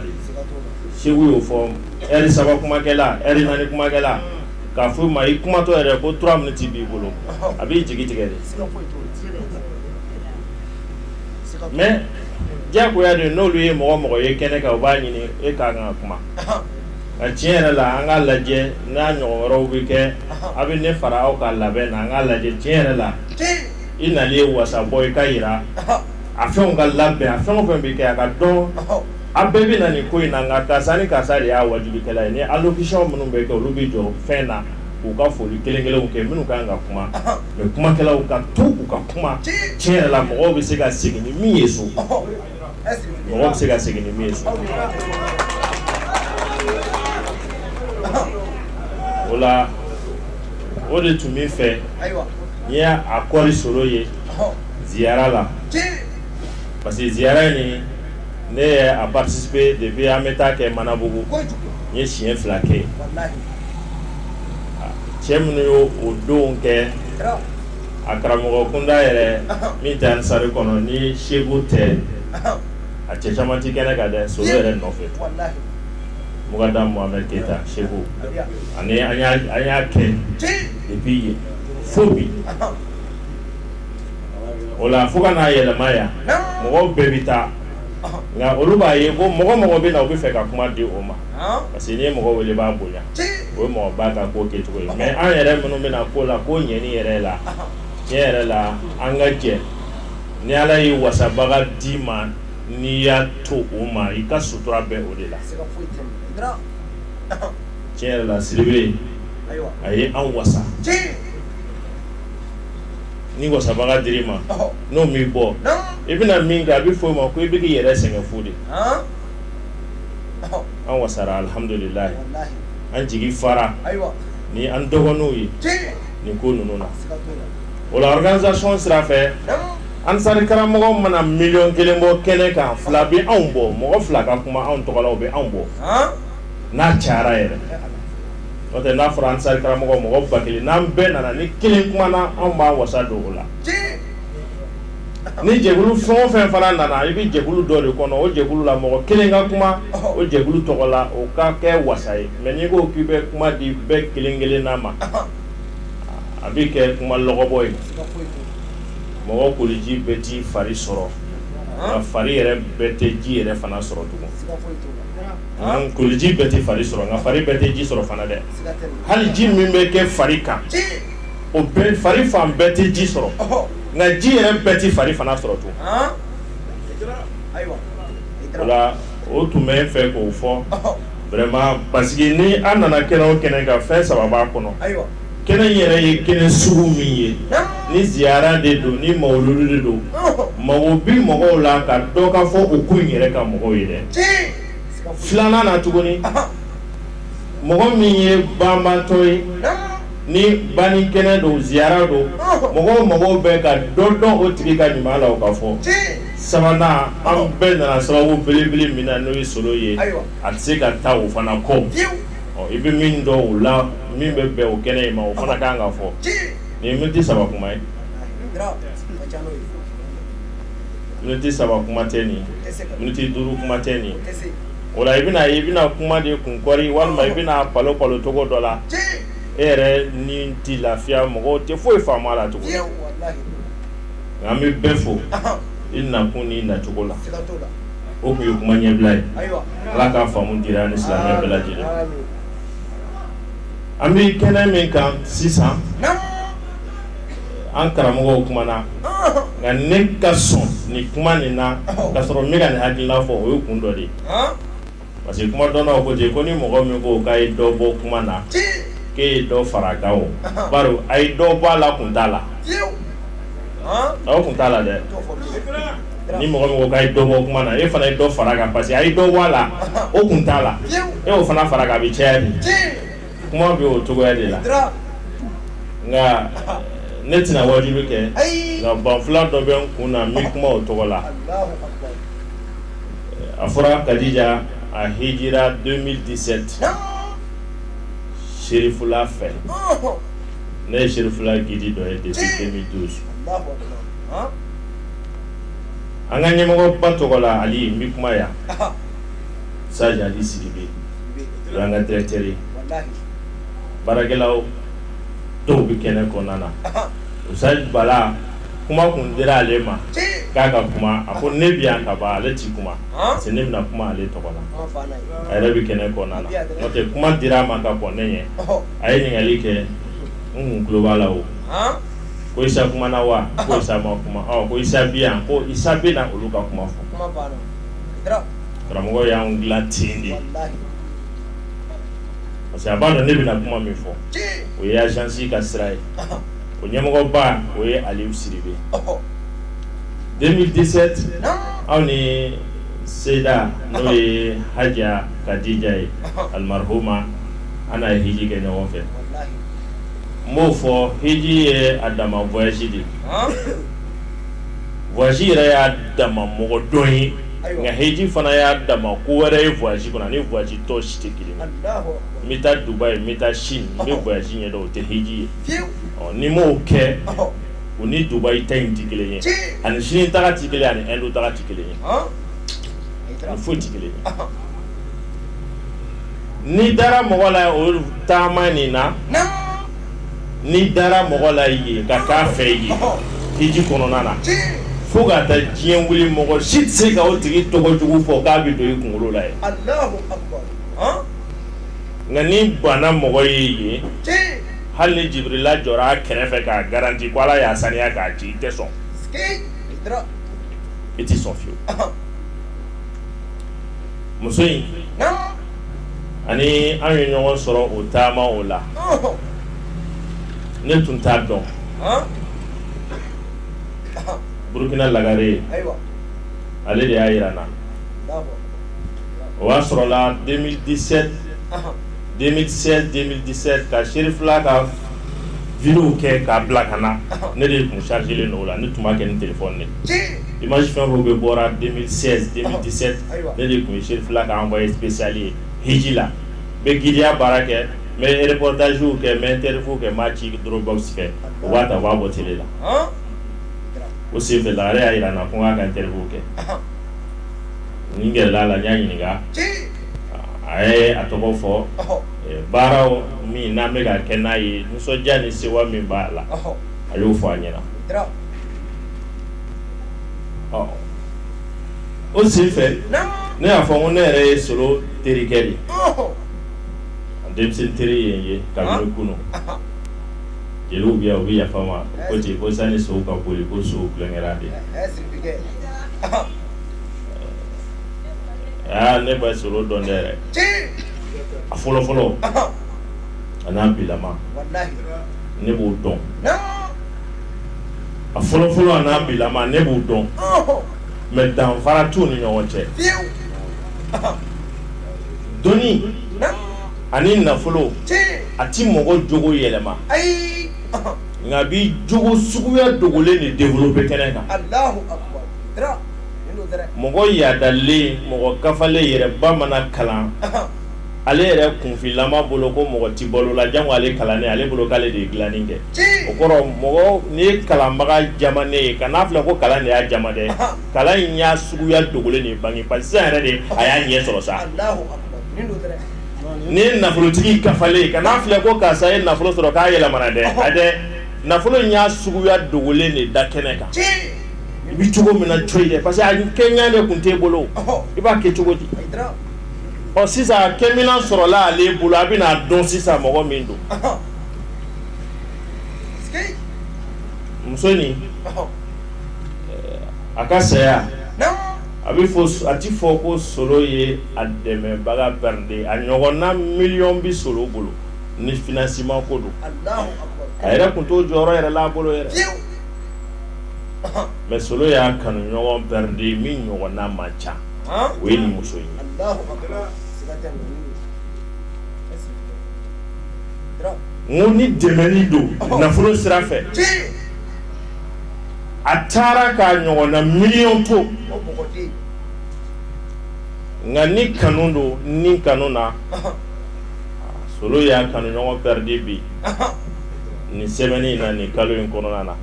segu y'o fɔ lɛri saba kumakɛla lɛri naani kumakɛla k'a fɔ i ma i kumatɔ yɛrɛ ko trois minutes b'i bolo a b'i jigi tigɛ dɛ mais diyagoya de n'olu ye mɔgɔ o mɔgɔ ye kɛnɛ kan u b'a ɲini e ka kan ka kuma nka tiɲɛ yɛrɛ la an k'a lajɛ n'a ɲɔgɔn wɛrɛw bɛ kɛ a bɛ ne fara aw ka labɛn na an k'a lajɛ tiɲɛ yɛrɛ la i nali ye wasa bɔ i ka jira a fɛnw ka labɛn a fɛn o fɛn bɛ kɛ a ka dɔn a bɛɛ bɛ na nin ko in na nka karisa ni karisa de y'a waajulikɛla ye ni allocution minnu bɛ kɛ olu bɛ jɔ fɛn na k'u ka foli kelen kelenw kɛ minnu ka kan ka kuma mais kumakɛlaw ka to u ka kuma tiɲɛ yɛrɛ la mɔgɔ bɛ se ka segin ni min ye so mɔgɔ bɛ se ka segin ni min ye so o la o de tun bɛ fɛ n y'a kɔɔri sɔrɔ ye ziyara la parce que ziyara nin ne ye a participer depuis an bɛ taa kɛ manabugu n ye siɲɛ fila kɛ cɛ minnu y' o don kɛ a karamɔgɔ kunda yɛrɛ min tɛ Ansari kɔnɔ ni Segu tɛ a cɛ caman tɛ kɛnɛ ka dɛ so yɛrɛ nɔfɛ mukadamu Mamadu Keyita Segu ani an y'a kɛ depuis yen fo bi o la fo ka n'a yɛlɛma yan mɔgɔw bɛɛ bɛ taa nka olu b'a ye ko mɔgɔ o mɔgɔ bɛ na u b'a fɛ ka kuma di o ma parce que n'i ye mɔgɔ wele i b'a bonya o ye mɔgɔba ka ko kɛcogo ye mais an yɛrɛ minnu bɛna ko la ko ɲɛɲini yɛrɛ la tiɲɛ yɛrɛ la an ka jɛ ni Ala ye wasabaga d'i ma n'i y'a to o ma i ka sutura bɛ o de la tiɲɛ yɛrɛ la Sidibe a ye an wasa ni wasabaga dir'i ma n'o m'i bɔ i bɛna min kɛ a bɛ fɔ o ma ko i bɛ k'i yɛrɛ sɛgɛn fu dɛ. an wasara alihamdulila an jigi fara ni an dɔgɔninw ye nin ko ninnu na o la organisation sira fɛ Ansari karamɔgɔ mana miliyɔn kelen bɔ kɛnɛ kan fila bɛ anw bɔ mɔgɔ fila ka kuma anw tɔgɔ la o bɛ anw bɔ n'a cayara yɛrɛ o n'a fɔra Ansari karamɔgɔ mɔgɔ ba kelen n'an bɛɛ nana ni kelen kumana an b'an wasa don o la ni jɛkulu fɛn o fɛn fana nana i bɛ jɛkulu dɔ de kɔnɔ o jɛkulu la mɔgɔ kelen ka kuma o jɛkulu tɔgɔ la o ka kɛ wasa ye mɛ n'i ko k'i bɛ kuma di bɛɛ kelen kelenna ma a bɛ kɛ kuma lɔbɔ ye mɔgɔ koliji bɛɛ t'i fari sɔrɔ nka fari yɛrɛ bɛɛ tɛ ji yɛrɛ fana sɔrɔ tugun koliji bɛɛ tɛ fari sɔrɔ nka fari bɛɛ tɛ ji sɔrɔ fana dɛ hali ji min bɛ kɛ fari kan o fari fan bɛɛ tɛ ji sɔrɔ nka ji yɛrɛ bɛɛ tɛ fari fana sɔrɔ tun n tun b'a fɛ k'o fɔ vraiment parce que ni an nana kɛnɛ o kɛnɛ kan fɛn saba b'a kɔnɔ kɛnɛ yɛrɛ ye kɛnɛ sugu min ye ni ziyara de don ni mawuludu de don mago bɛ mɔgɔw la ka dɔ ka fɔ o kun yɛrɛ kan mɔgɔw yɛrɛ filanan na tuguni mɔgɔ min ye banbaatɔ ye ni banni kɛnɛ don ziyara don mɔgɔ o mɔgɔ bɛ ka dɔ dɔn o tigi ka ɲuman la o k'a fɔ sabanan anw bɛɛ nana sababu belebele min na n'o ye solo ye a tɛ se ka taa o fana kɔ i bɛ min dɔn o la min bɛ bɛn o kɛnɛ ma o fana ka kan ka fɔ nin miniti saba kuma ye miniti saba kuma tɛ nin miniti duuru kuma tɛ nin o la i bɛna i bɛna kuma de kun kɔɔri walima i bɛna balo balo cogo dɔ la e yɛrɛ ni tɛ lafiya mɔgɔw tɛ foyi faamu a la tugun nka n bɛ bɛɛ fo i nakun ni nacogo la o tun ye kuma ɲɛbila ye ala k'a faamu di an ni silamɛ bɛɛ lajɛlen an bɛ kɛnɛ min kan sisan an karamɔgɔw kumana nka ne ka sɔn ni kuma nin na ka sɔrɔ ne ka ne hakilina fɔ o ye kun dɔ de parce que kuma dɔnna ko ten ko ni mɔgɔ min ko k'a ye dɔ bɔ kuma na k'e ye dɔ fara kan bari a ye dɔ bɔ a la kun t'a la kun t'a la dɛ ni mɔgɔ min ko k'a ye dɔ bɔ kuma na e fana ye dɔ fara kan parce que a ye dɔ bɔ a la o kun t'a la e' fana fara a bɛ caya kuma bɛ o cogoya de la nka ne tɛna waajuli kɛ nka banfula dɔ bɛ n kun na n bɛ kuma o tɔgɔ la a fɔra kadija a hijira deux mille dix-sept serifula fɛ ne ye serifula gidi dɔ ye depuis deux mille douze an ka ɲɛmɔgɔba tɔgɔ la hali n bɛ kuma yan sajadi sibi an ka directeur baarakɛlaw dɔw bɛ kɛnɛ kɔnɔna na usayi bala kuma kun dira ale ma k'a ka kuma a ko ne bɛ yan kaban ale tɛ kuma se ne bɛna kuma ale tɔgɔ la a yɛrɛ bɛ kɛnɛ kɔnɔna na nɔntɛ kuma dira a ma ka kɔn ne ɲɛ a ye ɲininkali kɛ n tuloba la o ko isa kumana wa ko isa ma kuma ko isa bi yan ko isa bɛ na olu ka kuma fɔ karamɔgɔ y'an dilan ten de parce que a b'a dɔn ne bɛna kuma min fɔ o ye agence ka sira ye o ɲɛmɔgɔba o ye Aliou Sidibe 2017 aw ni Seyida n'o ye Haja Kadija ye almarhuma an n'a ye hiji kɛ ɲɔgɔn fɛ n b'o fɔ hiji ye a dama voyage de ye voyage yɛrɛ y'a dama mɔgɔ dɔn ye nka hiji fana y'a dama ko wɛrɛ ye voyage kɔnɔ ni voyage tɔ si tɛ kelen n bɛ taa Dubai n bɛ taa Sini nin bɛɛ voyage ye o tɛ hiji ye ni mɔw kɛ u ni Dubai taa in tɛ kelen ye ani Sini taa tɛ kelen ani Inde taa tɛ kelen ye a foyi tɛ kelen n'i dara mɔgɔ la o taama nin na n'i dara mɔgɔ la ye ka k'a fɛ ye hiji kɔnɔna na fo ka taa diɲɛ wili mɔgɔ si tɛ se ka o tigi tɔgɔjugu fɔ k'a bɛ don i kunkolo la ye nka n'i banna mɔgɔ ye ye hali ni jibirila jɔra a kɛrɛfɛ k'a garanti ko ala y'a saniya k'a ci i tɛ sɔn i tɛ sɔn fiyewu muso in ani an ye ɲɔgɔn sɔrɔ o taama o la ne tun t'a dɔn burukina lagare ale de y'a jira n na o y'a sɔrɔ la 2016 2017 ka serifila ka vidéow kɛ k'a bila ka na ne de ye kun chargélen o la ne tun b'a kɛ ni téléphone image fɛn o fɛn bɔra ne de tun serifila ka envoyé spécial ye hiji la média baara kɛ n bɛ reportagew kɛ n bɛ interview kɛ n b'a ci dɔrɔnbaw fɛ u b'a ta b'a bɔ télé la o senfɛ la ale y'a jira n na ko n' k'a interview kɛ nin gɛlɛya la n y'a ɲininka a ye a tɔgɔ fɔ baara min n'an bɛ ka kɛ n'a ye nisɔndiya ni se min b'a la a y'o fɔ a ɲɛna o senfɛ ne y'a fɔ ko ne yɛrɛ ye solo teri de ye denmisɛn teri ye n ye kabi kunun jeliw bɛ yan u bɛ yafa n ma ko ten ko sani sow ka boli ko sow tulonkɛra de aa ne bɛ solo dɔn dɛ a fɔlɔ fɔlɔ a n'a bilama ne b'o dɔn a fɔlɔfɔlɔ n'a bilama ne b'u dɔn mɛ danfara t'u ni ɲɔgɔn cɛ dɔnni ani nafolo a tɛ mɔgɔ jogo yɛlɛma nka b'i jogo suguya dogolen in de bɔ kɛnɛ kan mɔgɔ yaadalen mɔgɔ kafalen yɛrɛba mana kalan Ale yɛrɛ kunfinma bolo ko mɔgɔ tɛ balo la jan ale kalan ale bolo k'ale de ye dilai kɛ o kɔrɔ mɔgɔ n'i ye kalanbaga jamanen ye kan'a filɛ ko kalan de y'a jama dɛ kalan in y'a suguya dogolen de bange pa yɛrɛ de a y'a ɲɛ sɔrɔ sa n'i ye nafolotigi kafalen kan'a filɛ ko karisa ye nafolo sɔrɔ k'a yɛlɛmana dɛ a dɛ nafolo in y'a suguya dogolen de da kɛnɛ kan i bɛ cogo min na cogo ye parce que a kɛɲa de tun t'i bolo i b'a kɛ cogo di ɔ sisan a kɛminɛn sɔrɔla ale bolo a bɛna a dɔn sisan mɔgɔ min don muso nin a ka saya a bɛ fɔ a tɛ fɔ ko solo ye a dɛmɛbaga pɛrɛdi a ɲɔgɔnna miliyɔn bɛ solo bolo ni finansiman ko don a yɛrɛ tun t'o jɔyɔrɔ yɛrɛ la a bolo yɛrɛ mɛ solo y'a kanu ɲɔgɔn pɛrɛdi min ɲɔgɔnna man ca o ye muso ye ni dɛmɛni don nafolo sira fɛ a taara k'a ɲɔgɔnna miliyɔn to nka ni kanu don ni kanu na solo y'a kanu ɲɔgɔn pɛrɛdi bi nin semɛni na nin kalo in kɔnɔna na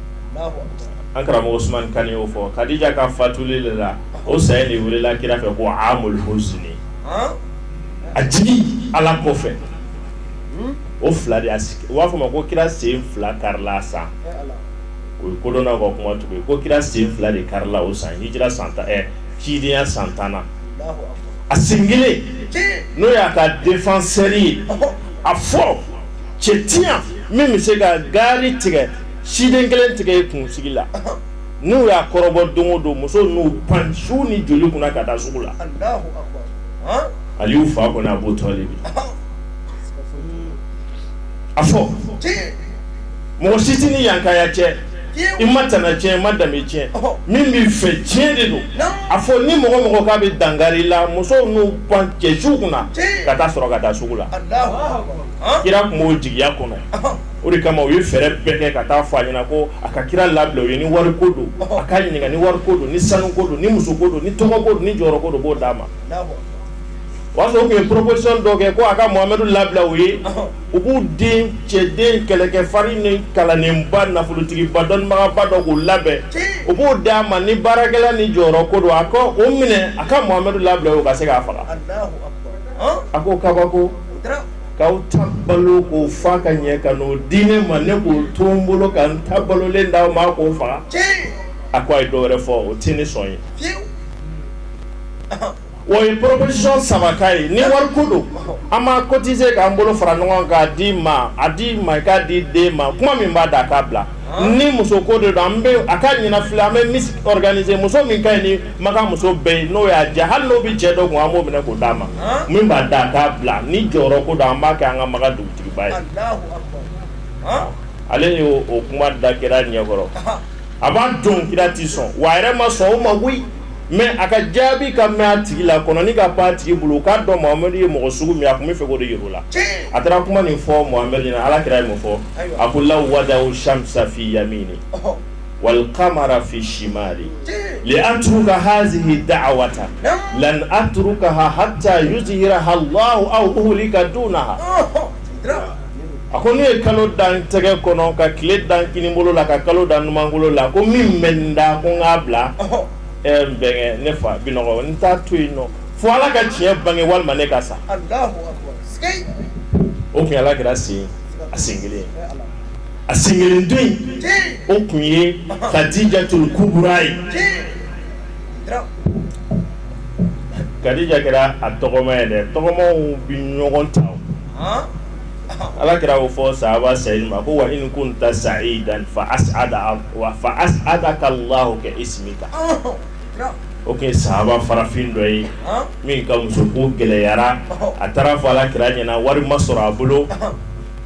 an karamɔgɔ usuman kan y'o fɔ kadija ka fatuli de la o saya de welela kira fɛ ko amul husini a jigi ala kɔ fɛ o fila de sigi u b'a fɔ ma ko kira sen fila karila sa o ye kodɔn ka kuma tugu ko kira sen fila de karila o san hijira san tan cidenyaya san tannan na a sen kelen n'o y'a ka defansɛri ye a fɔ cɛ tɛ yan min bɛ se ka gari tigɛ siden kelen tigɛ e kunsigi la n'u y'a kɔrɔbɔ don o don musow n'u pan su ni joli kunna ka taa sugu la ali y'u fa kɔnɔ a b'o tɔgɔ de a fɔ mɔgɔ sit ni yankaya cɛ i ma tana tiɲɛ ma danbe tiɲɛ min bɛ fɛ tiɲɛ de don a fɔ ni mɔgɔ mɔgɔ k'a bɛ dankari i la musow n'u pan cɛ su kunna ka taa sɔrɔ ka taa sugu la kira tun b'o jigiya kɔnɔ o de kama u ye fɛɛrɛ bɛɛ kɛ ka taa fɔ a ɲɛna ko a ka kira labila u ye ni wari ko don a k'a ɲininka ni wari ko don ni sanu ko don ni muso ko don ni tɔgɔ ko don ni jɔyɔrɔ ko don u b'o d'a ma o y'a sɔrɔ u tun ye proposition dɔ kɛ ko a ka Mohamadu labila u ye u b'u dencɛ den kɛlɛkɛ farin ni kalannenba nafolotigiba dɔnnibagaba dɔ k'o labɛn u b'o d'a ma ni baarakɛla ni jɔyɔrɔ ko don a ka o minɛ a ka Mohamadu labila u ye u ka se k'a faga a ko kabako k'aw ta balo k'o fa ka ɲɛ ka n'o di ne ma ne k'o to n bolo ka n ta balolen d'aw ma k'o faga tiɲɛ a ko a ye dɔ wɛrɛ fɔ o tɛ ne sɔn ye fiyewu o ye proposition saba k'a ye ni wari ko don an b'a cotiser k'an bolo fara ɲɔgɔn kan k'a d'i ma a d'i ma i k'a d'i den ma kuma min b'a da a k'a bila ni muso ko don an a ka ɲɛna an bɛ miss organiser muso min ka ɲi makan muso bɛɛ ye n'o y'a diya hali n'o bɛ cɛ dɔ kun an b'o minɛ k'o d'a ma min b'a da k'a bila ni jɔyɔrɔ ko don an b'a kɛ an ka makan dugutigiba ye ale y'o kuma da kira ɲɛkɔrɔ a b'a don kira tɛ sɔn wa yɛrɛ ma sɔn o ma koyi mɛ a ka jaabi ka mɛ a tigi la kɔnɔ ka pan tigi bolo k'a dɔn Mohamadu ye mɔgɔ sugu min a tun bɛ fɛ o de la a taara kuma nin fɔ ala kira ye mun fɔ a ko la wada samisa fi yamini wali kamara fi yasari an atruka hazihi daawata lan atrukaha hata yuzihiraha lahu aw ahlika duna a ko n'u ye kalo da n tɛgɛ kɔnɔ ka tile da n kini bolo la ka kalo da n numanbolo la ko min bɛ n da ko k'a bila n bɛn ne fa bi n t'a to yen nɔ fo ala ka tiɲɛ bange walima ne ka sa o kɛra sen a sen kelen a sen kelen don o tun ye kadijatu kubura ye kadija kɛra a tɔgɔma ye dɛ tɔgɔma bɛ ɲɔgɔn ta ala kira y'o fɔ saba seyidi ma ko wa in kunta sayidan fa ada wa fa asadaka lahu ka isimika o tun ye saba farafin dɔ ye min ka muso ko gɛlɛyara a taara fɔ ala kira ɲɛna wari ma sɔrɔ a bolo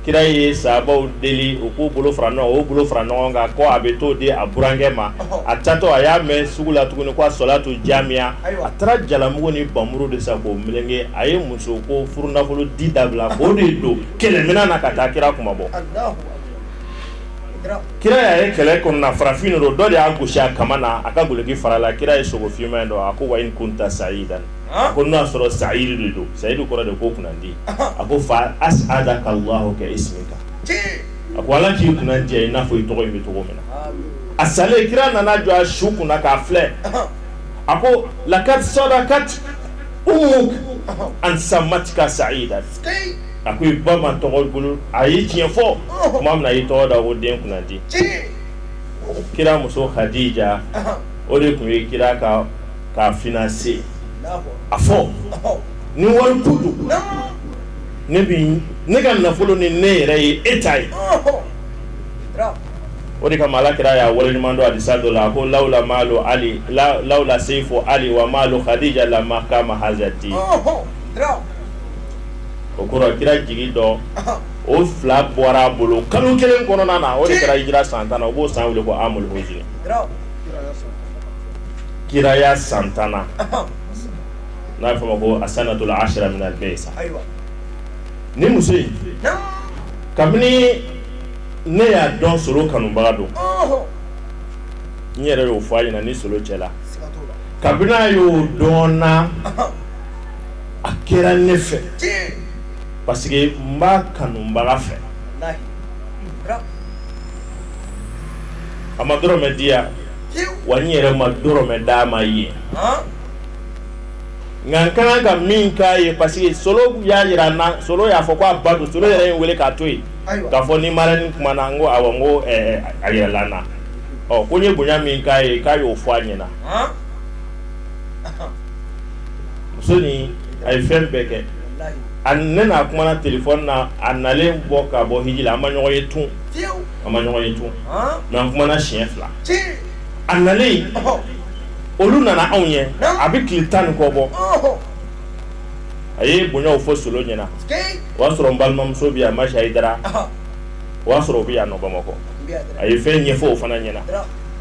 kira ye sabaw deli u k'u bolo fara o bolo fara ɲɔgɔn kan ko a bɛ t'o di a burankɛ ma a taatɔ a y'a mɛn sugu la tuguni ko asolatu jamiya a taara jalamugu ni npanmuru de san k'o meleke a ye muso ko furunafolo di dabila k'o de don kɛlɛminɛn na ka taa kira kunmabɔ Kira y'a ye kɛlɛ kɔnɔna farafin de don dɔ de y'a gosi a kaman na a ka duloki farala kira ye sogo finman in dɔn a ko wa in kunta sayidan ɔnhɔn a ko n'o y'a sɔrɔ sayidu de don sayidu kɔrɔ de ko kunandi ɔnhɔn a ko fa as'adaka Allahu ka ismika cii a ko Ala k'i kunadiya i n'a fɔ i tɔgɔ in bɛ cogo min na aamiin a salen kira nana jɔ a su kunna k'a filɛ ɔnhɔn a ko lakad sɔdakat ummuk ɔnhɔn an sammatka sayidan sikeyi a ko i ba tɔgɔ bolo a ye tiɲɛ fɔ tuma min a y'i tɔgɔ da o den kunandi kira muso kadija o de tun ye kira ka financier a fɔ ni wari tun don ne bɛ ne ka nafolo ni ne yɛrɛ ye e ta ye o de kama ala kira y'a waleɲumandɔn hadisa dɔ la a ko lawla lawla sayifu ali wa malu kadija lama kama hazti o kɛra kira jigi dɔ o fila bɔra a bolo kalo kelen kɔnɔna na o de kɛra hijira san tan na u b'o san weele ko amul husuni kiraya san tannan n'a fɔ a ma ko asanatul ashira minal biisa ni muso in kabini ne y'a dɔn solo kanubaga don n yɛrɛ y'o fɔ a ɲɛna ni solo cɛ la kabini n y'o dɔn a kɛra ne fɛ parce que n b'a kanubaga fɛ a ma dɔrɔmɛ di yan wa n yɛrɛ ma dɔrɔmɛ d'a ma yen nka n ka kan ka min k'a ye parce que solo y'a jira n na solo y'a fɔ k'a ba don solo yɛrɛ ye n weele k'a to yen k'a fɔ n ni marraine kumana n ko n ko a yirala n na ɔ ko n ye bonya min k'a ye k'a y'o fɔ a ɲɛna muso in a ye fɛn bɛɛ kɛ a ne n'a kumana telefɔni na a nalen kɔ ka bɔ hiji la an ma ɲɔgɔn ye tun an ma ɲɔgɔn ye tun nka an kumana siɲɛ fila a nalen olu nana anw ye a bɛ tile tan ni kɔ bɔ a ye bonyaw fɔ solo ɲɛna o y'a sɔrɔ n balimamuso bɛ a ma hayidara o y'a sɔrɔ u bɛ yan bamakɔ a ye fɛn ɲɛfɔ u fana ɲɛna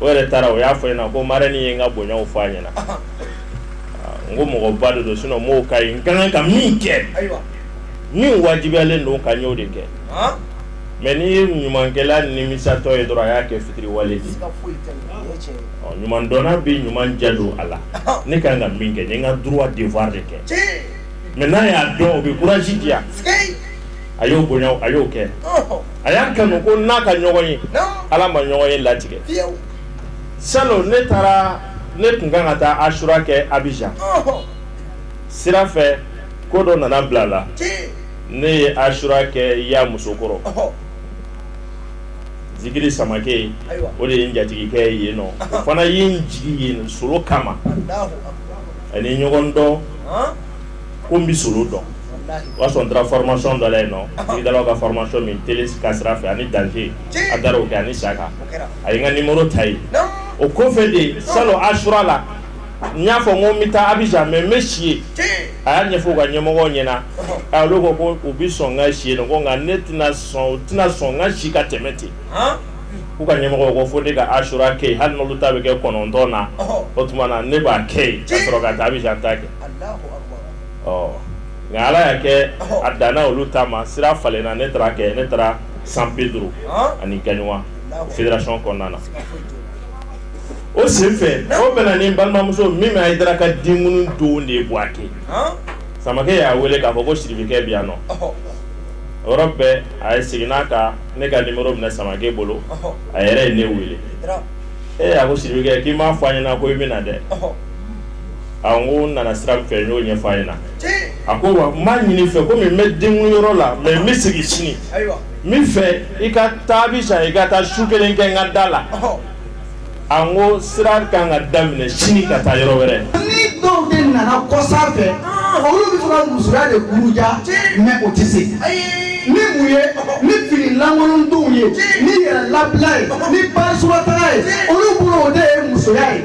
o yɛrɛ taara o y'a fɔ n ɲɛna ko marraine ye n ka bonyaw fɔ a ɲɛna n ko mɔgɔba de don sinon mɔgɔ ka kan ka min kɛ min wajibiyalen don n kan n y'o de kɛ mais n'i ye ɲumankɛla nimisatɔ ye dɔrɔn a y'a kɛ fitiriwale ye ɲumandɔn bɛ ɲuman jɛ don a la ne ka kan ka min kɛ n ka du devoir de kɛ mais n'a y'a dɔn o bɛ courage diya a y'o bonya a y'o kɛ a y'a kanu ko an ka ɲɔgɔn ye ala ma ɲɔgɔn ye latigɛ sa ne taara ne tun kan ka taa asura kɛ abijan sira fɛ ko dɔ nana bila la ne ye asura kɛ yan musokɔrɔ zikiri samakɛ o de ye n jatigikɛ ye nɔ o fana ye n jigin yen solo kama ani ɲɔgɔn dɔn ko bɛ so dɔn o y'a sɔrɔ taara farimasi dɔ yen nɔn da ka farimasi min t ka sira fɛ ani danfe a da o kɛ ani sa kan a ye ka ni mori ta ye o kɔfɛ de sa don asura la n y'a fɔ n bɛ taa abijan mɛ n bɛ si yen a y'a ɲɛfɔ ka ɲɛmɔgɔ ɲɛna a ko ko u bɛ sɔn ka si ko nka ne tɛna sɔn tɛna sɔn ka si ka tɛmɛ ten u ka ɲɛmɔgɔ ko fo ne ka asura kɛ hali n ta bɛ kɛ kɔnɔntɔn na o tuma na ne b'a kɛ yen ka sɔrɔ ka taa bɛ ta kɛ nka ala y'a kɛ a dan olu taama sira falenna ne taara kɛ ne taara san pedro ani gaɲuwa federasɔn kɔnɔna na o senfɛ o bɛnna ni balimamuso min hayidara ka den don de ye buwake samakɛ y'a wele k'a fɔ ko sirikɛ bi yan nɔ o yɔrɔ bɛɛ a ye segin n'a ka ne ka nimɔrɔ minɛ samakɛ bolo a yɛrɛ ye ne wele ee a ko sirikɛ k'i m'a fɔ a ɲɛna ko i bɛna na dɛ nana sira fɛ y'o ɲɛfɔ ye na a ko n b'a ɲini i fɛ komi n bɛ den yɔrɔ la mɛ n bɛ segin sini n b'a fɛ i ka taa abijan i ka taa su kelen kɛ ka da la a ko sira ka ka daminɛ sini ka taa yɔrɔ wɛrɛ ni dɔw de nana kɔ fɛ olu bɛ musoya de kuruja mɛ o tɛ se ni mun ye ni finilankolon denw ye ni yɛrɛ labila ye ni ba taga ye olu bolo o de ye musoya ye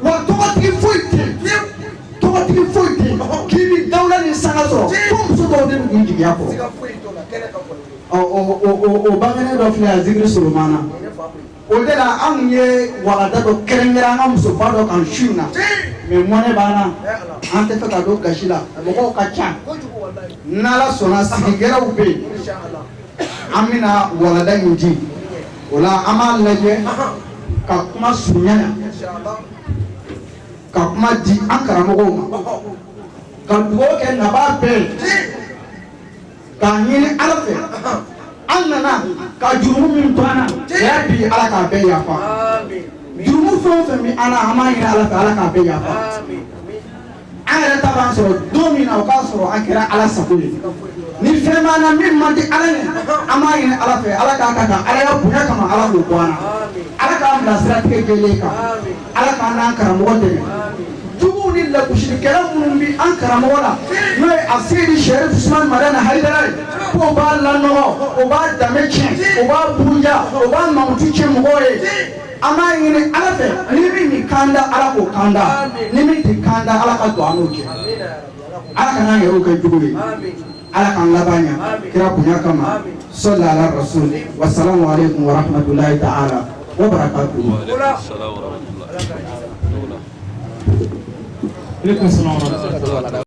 wa tɔgɔtigi foyi tɛ tɔgɔtigi foyi tɛ k'i ni dawula ni sanga sɔrɔ fo muso dɔw de kun jigiya kɔrɔ o bangenen dɔ filɛ a zikiri solomana o de la anw ye walada dɔ kɛrɛnkɛrɛn an ka musoba dɔ kan su in na mɛ mɔnɛ b'an na an tɛ fɛ ka don gasi la mɔgɔw ka ca n'ala sɔnna sigi gɛrɛw bɛ yen an bɛna walada in di o la an b'a lajɛ ka kuma surunya na ka kuma di an karamɔgɔw ma ka dugawu kɛ naba bɛɛ ye k'a ɲini ala fɛ an nana ka jurumu min to an na o y'a bi ala k'a bɛɛ yafa jurumu fɛn o fɛn bɛ an na an b'a ɲini ala fɛ ala k'a bɛɛ yafa an yɛrɛ ta b'an sɔrɔ don min na o k'a sɔrɔ an kɛra ala sago ye ni fɛn b'an na min man di ala ye an b'a ɲini ala fɛ ala k'a ka taa ala ya bonya kama ala k'o bɔ an na ala k'an bila siratigɛ jɛlen kan ala k'an n'an karamɔgɔ dɛmɛ juguw ni lakusilikɛla minnu bi an karamɔgɔ la n'o ye asɛyidi sɛrifu usman madani hayidara ye k'o b'a lanɔgɔ o b'a danbe tiɲɛ o b'a buruja o b'a mamutu tiɲɛ mɔgɔw ye an b'a ɲini ala fɛ ni min b'an kanda ala k'o kanda ni min t'an kanda ala ka don an n'o cɛ ala kan'an yɛrɛw k'an jugu ye ala k'an laban ɲa kira bonya kama sɔli ala rasul wasalamu aleykum wa rahmatulahi ta'ala wa barakatuhu aleykum salaam wa rahmatulahi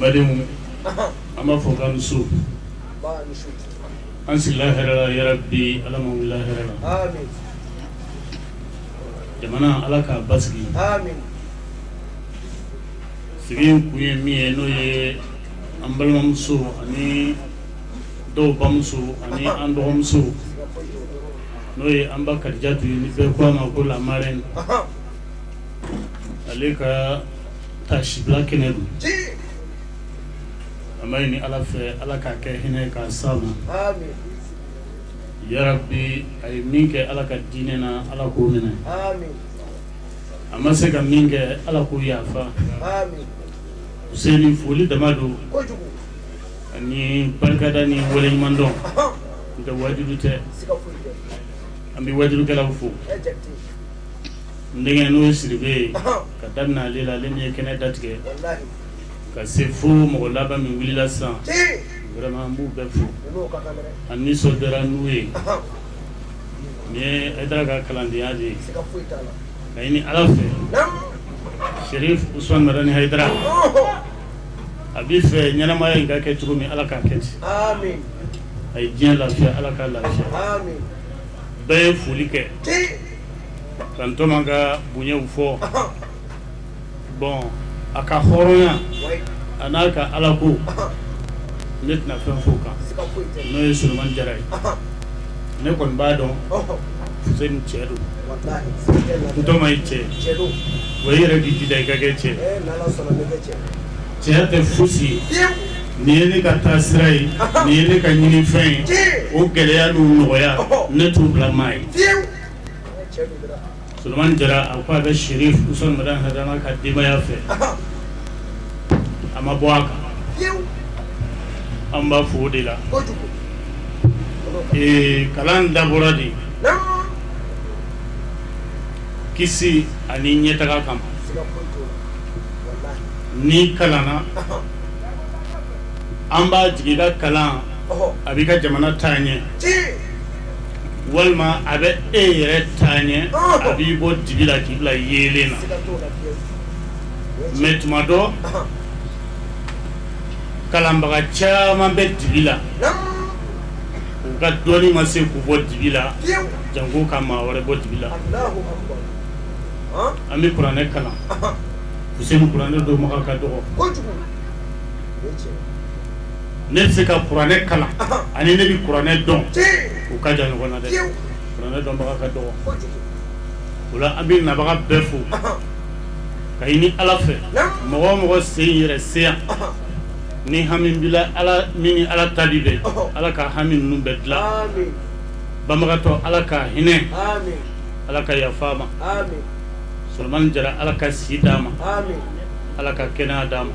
balimaw an b'a fo k'a ni su an sigila hɛrɛ la yarabi Ala k'an wula hɛrɛ la aami jamana Ala k'a basigi aami sigi in kun ye min ye n'o ye an balimamuso ani dɔw bamuso ani an dɔgɔmuso siga foyi t'o la n'o ye an ba Kadijatu ye ni bɛɛ ko a ma ko la marraine ale ka taasibila kɛnɛ don an b'a ɲini Ala fɛ Ala k'a kɛ hinɛ ye k'a s'a ma aami yarabi a ye min kɛ Ala ka diinɛ na Ala k'o minɛ aami a ma se ka min kɛ Ala k'o yafa aami Useni foli dama don kojugu ani barikada ni waleɲumandɔn ɔhɔn n'o tɛ waajuli tɛ siga foyi tɛ an bɛ waajulikɛlaw fo e Jakite n denkɛ n'o ye sidibe ye k'a daminɛ ale la ale min ye kɛnɛ datigɛ ka se fo mɔgɔ laban min wulila sisan vraiment n b'u bɛɛ fo an nisɔndiyara n'u ye n ye hayidara ka kalandenya de ye k'a ɲini ala fɛ serifu usumani madani hayidara a b'a fɛ ɲɛnamaya in ka kɛ cogo min ala k'a kɛ ten a ye diɲɛ lafiya ala k'a lafiya n bɛ foli kɛ ka n tɔgɔma ka bonyaw fɔ bon a ka hɔrɔnya a n'a ka alako ne tɛna fɛn fɔ a kan n'o ye solomani jara ye ne kɔni b'a dɔn se ni cɛ don n tɔgɔma ye cɛ wa i yɛrɛ k'i jija i ka kɛ cɛ Cɛya tɛ fosi ye, fiyew, nin ye ne ka taa sira ye, ɔhɔ, nin ye ne ka ɲini fɛn ye, tiɲɛ, o gɛlɛya n'o nɔgɔya, ɔhɔ, ne t'o bila maa ye, fiyew, tiɲɛ don dɛ, Solomani Jara a ko a bɛ Serif Usumani Madani Hayidara ka denbaya fɛ, ɔhɔ, a ma bɔ a kan, fiyew, anw b'a fɔ o de la, kojugu, ee kalan dabɔra de, naamu, kisi ani ɲɛtaga kama, siga foyi t'o la. n'i kalanna an b'a jigi i ka kalan a b'i ka jamana taa ɲɛ walima a bɛ e yɛrɛ taa ɲɛ a b'i bɔ dibi la k'i bila yeelen na mɛ tuma dɔ kalanbaga caman bɛ dibi la u ka dɔnni ma se k'u bɔ dibi la janko ka maa wɛrɛ bɔ dibi la an bɛ kuranɛ kalan kuranɛ dɔnbaga ka dɔgɔ ne bɛ se ka kuranɛ kalan ani ne bɛ kuranɛ dɔn u ka jan ɲɔgɔn na dɛ kuranɛ dɔnbaga ka dɔgɔ o la an bɛ nabaga bɛɛ fo k'a ɲini ala fɛ mɔgɔ o mɔgɔ sen yɛrɛ se yan ni hami b'i la ala min ni ala talibɛ ala ka hami ninnu bɛɛ dilan banabagatɔ ala ka hinɛ Ala ka yafa a ma solomani jara ala ka si d'a ma ala ka kɛnɛya d'a ma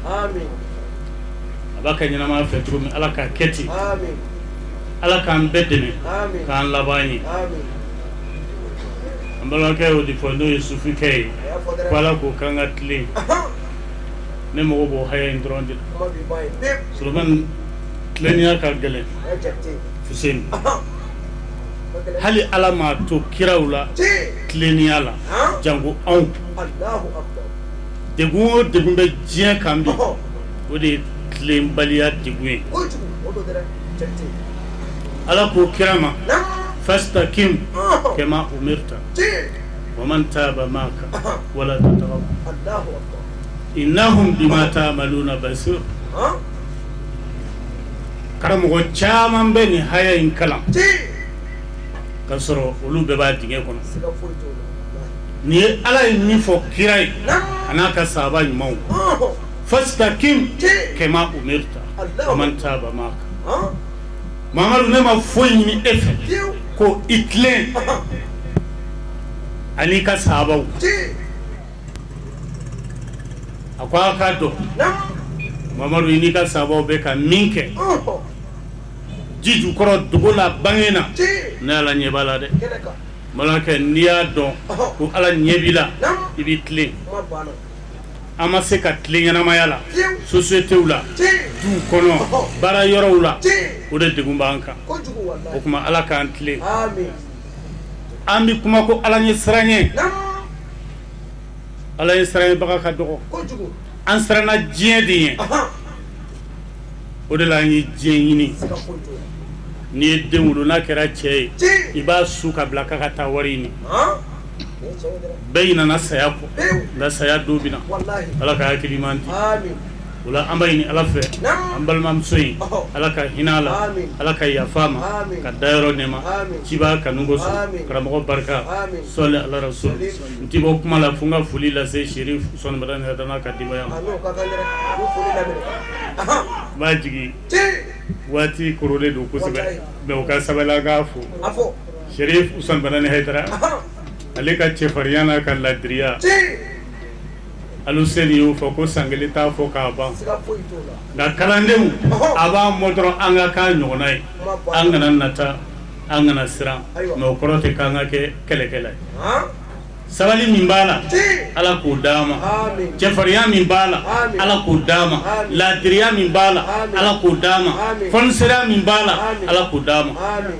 a b'a ka ɲɛnamaya fɛ cogo min ala k'a kɛ ten ala k'an bɛɛ dɛmɛ k'an laban ɲɛ an balimakɛ o de fɔ n'o ye sukɛ ye ko ala k'o k'an ka tilen ne mago b'o haya in dɔrɔn de la solomani tilenya ka gɛlɛn hali ala m'a to kiraw la tilenniya la jango anw dɛ o degun bɛ diɲɛ kan bi o de ye tilenbaliya degun ye ala ko kira ma fastakim kama umirta wa man taba maka wala tatgaw innahu bima taamaluna basir karamɔgɔ caman bɛ nin haya in kalan ka sɔrɔ olu bɛɛ b'a dingɛ kɔnɔ nin ye ala ye min fɔ kira ye a n'a ka saba ɲumanw fastakim kama umirta wa man taba maka mamadu ne ma foyi ɲini e fɛ ko i tilen ani i ka sabaw a ko an k'a dɔn mamadu i n'i ka saabaw bɛ ka min kɛ ji ju kɔrɔ dogo la bange na ne ala ɲɛ b'a la dɛ balimakɛ n'i y'a dɔn ko ala ɲɛ b'i la i b'i tilen an ma se ka tilen ɲɛnamaya la sosiyetew la du kɔnɔ baara yɔrɔw la o de degun b'an kan o tuma ala k'an tilen An bɛ kuma ko ala ɲɛsiranɲɛ ala ɲɛsiranɲɛbaga ka dɔgɔ an siranna diɲɛ de ɲɛ o de la an ye diɲɛ ɲini n'i ye den wolo n'a kɛra cɛ ye i b'a su ka bila k'a ka taa wari ɲini bɛɛ ɲinana saya kɔ saya don bɛ na ala ka hakili ɲuman di o la an b'a ɲini Ala fɛ, naamu, an balimamuso in, ɔhɔ, Ala ka hinɛ a la, amin, Ala ka yafa a ma, amin, ka da yɔrɔ nɛɛma, amin, cibaa kanu kosɔn, amin, karamɔgɔ barika, amin, sɔli Ala rasulu, sɔli, n tɛ bɔ kuma la fo n ka foli lase Serif Usumani Madani Hayidara n'a ka denbaya ma, a n'o ka kan dɛrɛ, a bɛ foli laminɛ, anhan, n b'a jigi, ci, waati korolen don kosɛbɛ, walahi, mais o ka sabali an k'a fo, a fɔ, Serif Usumani Madani Hayidara, anhan, ale ka cɛfarinya n'a ka laadiriya, ci Aluseni y'o fɔ ko san 1 t'a fɔ k'a ban siga foyi t'o la nka kalandenw ɔhɔɔ a b'an mɔ dɔrɔn an ka k'a ɲɔgɔnna ye kuma banna an kana nata an kana siran Ayiwa. mais o kɔrɔ tɛ k'an ka kɛ kɛlɛkɛla ye han sabali min b'a la tii Ala k'o d'an ma amin cɛfarinya min b'a la Amin. Ala k'o d'an ma Amin. laadiriya min b'a la Amin. Ala k'o d'an ma Amin. fɔniseriya min b'a la Amin. Ala k'o d'an ma amin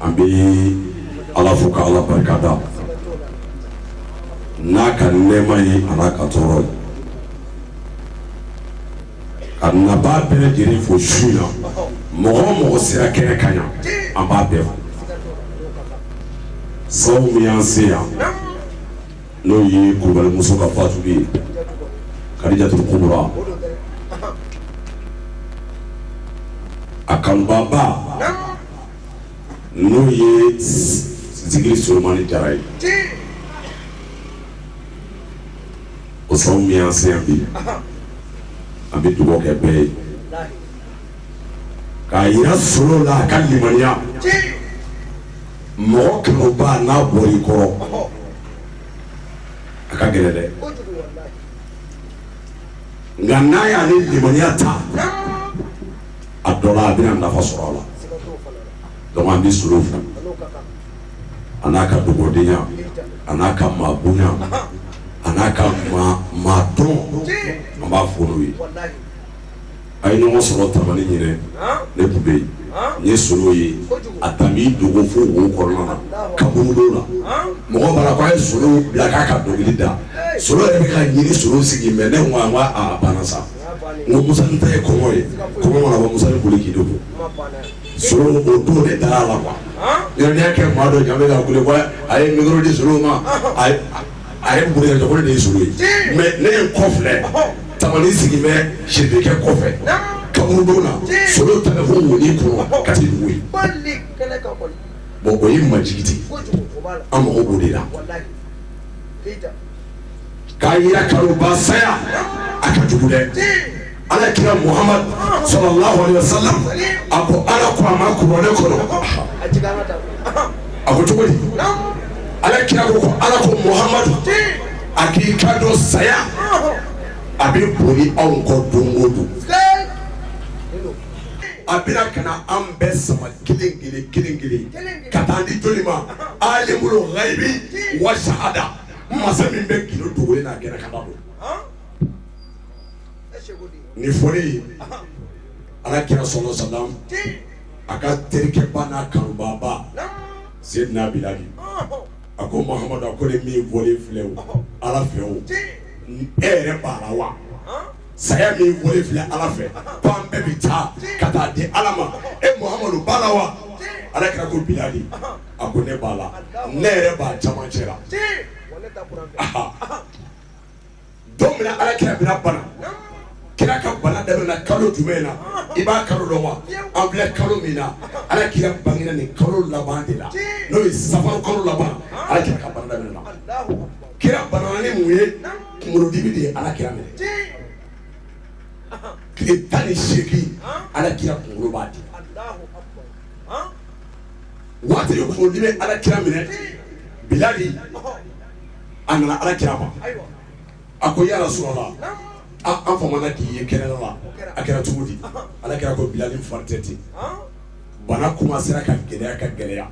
an bɛ ala fo ka ala barika da n'a ka nɛɛma ye an'a ka tɔɔrɔ ye ka nabaa bɛɛ lajɛlen fo su in na mɔgɔ o mɔgɔ sera kɛnɛ kan yan an b'a bɛɛ fo sabu min y'an se yan n'o ye kulubalimuso ka fatu ye kadijatu kubura a kanubaaba n'o ye zikiri solomani jara ye o sabu min y'an se yan bi an bɛ dugawu kɛ bɛɛ ye k'a jira solo la a ka limaniya mɔgɔ kanubaa n'a bɔr'i kɔrɔ a ka gɛlɛn dɛ nka n'a y'a ni limaniya ta a dɔ la a bɛna nafa sɔrɔ a la donc an bɛ solo fo a n'a ka dugawudenya a n'a ka maa bonya a n'a ka maa dɔn an b'a fo n'o ye a ye ɲɔgɔn sɔrɔ tamani ɲinan ne tun bɛ yen n ye solo ye a taar'i dogo fo bon kɔnɔna na karamɔgɔ bara ko a ye solo bila k'a ka dɔnkili da solo yɛrɛ bɛ ka ɲini solo sigi mɛ ne banna sa Ko mu ta ye kɔɔn ye kɔ musa boli k'i don so o don de da a la yɔrɔdenyaya kɛ maa dɔ ɲa ka a ye mi di s ma a ye bo de ye mɛ ne ye kɔ filɛ tamani sigi bɛ sɛkɛ kɔfɛ kabdon na so ta fo wuli kɔnɔ ka dugu ye bon o ye majigiti an mako de la k'a jira k'a fɔ ko saya a ka jugu dɛ, alakira Muhamadu salala wale wasalam a ko Ala ko a ma kuranɛ kɔnɔ, a ko cogo di, alakira ko ko Ala ko Muhamadu a k'i janto saya a bɛ boli anw kɔ don o don, sikeyi, a bɛna ka na an bɛɛ sama kelen kelen kelen kelen ka taa di jɔni ma? alimul gayibi wa sahada Masa min bɛ g dogolen n'a kɛnɛ kan ta nin fɔlen ala kira sala salam a ka terikɛba n'a kanubaba seyidina bilali a ko Muhamadu a ko nin min fɔlen filɛ ala fɛ e yɛrɛ b'a la wa saya min fɔlen filɛ ala fɛ ko an bɛɛ bɛ taa ka taa di ala ma e Muhamadu b'a la wa ala kira ko bilali a ko ne b'a la ne yɛrɛ b'a jama cɛ la don min ala kira binna bana kira ka bana daminɛna kalo jumɛn in na i b'a kalo dɔn wa an filɛ kalo min na ala kira banana nin kalo laban de la n'o ye safari kalo laban ala kira ka bana daminɛna kira banana ni mun ye kunkolodimi de ye ala kira minɛ tile tan ni seegin ala kira kunkolo b'a di waati dɔ kundimi bɛ alakira minɛ bilali a nana alakira ma a ko ya rasululahi an famana k'i ye kɛnɛ la a kɛra cogo di ala kira ko bilali n fari tɛ ten bana kuma sera ka gɛlɛya ka gɛlɛya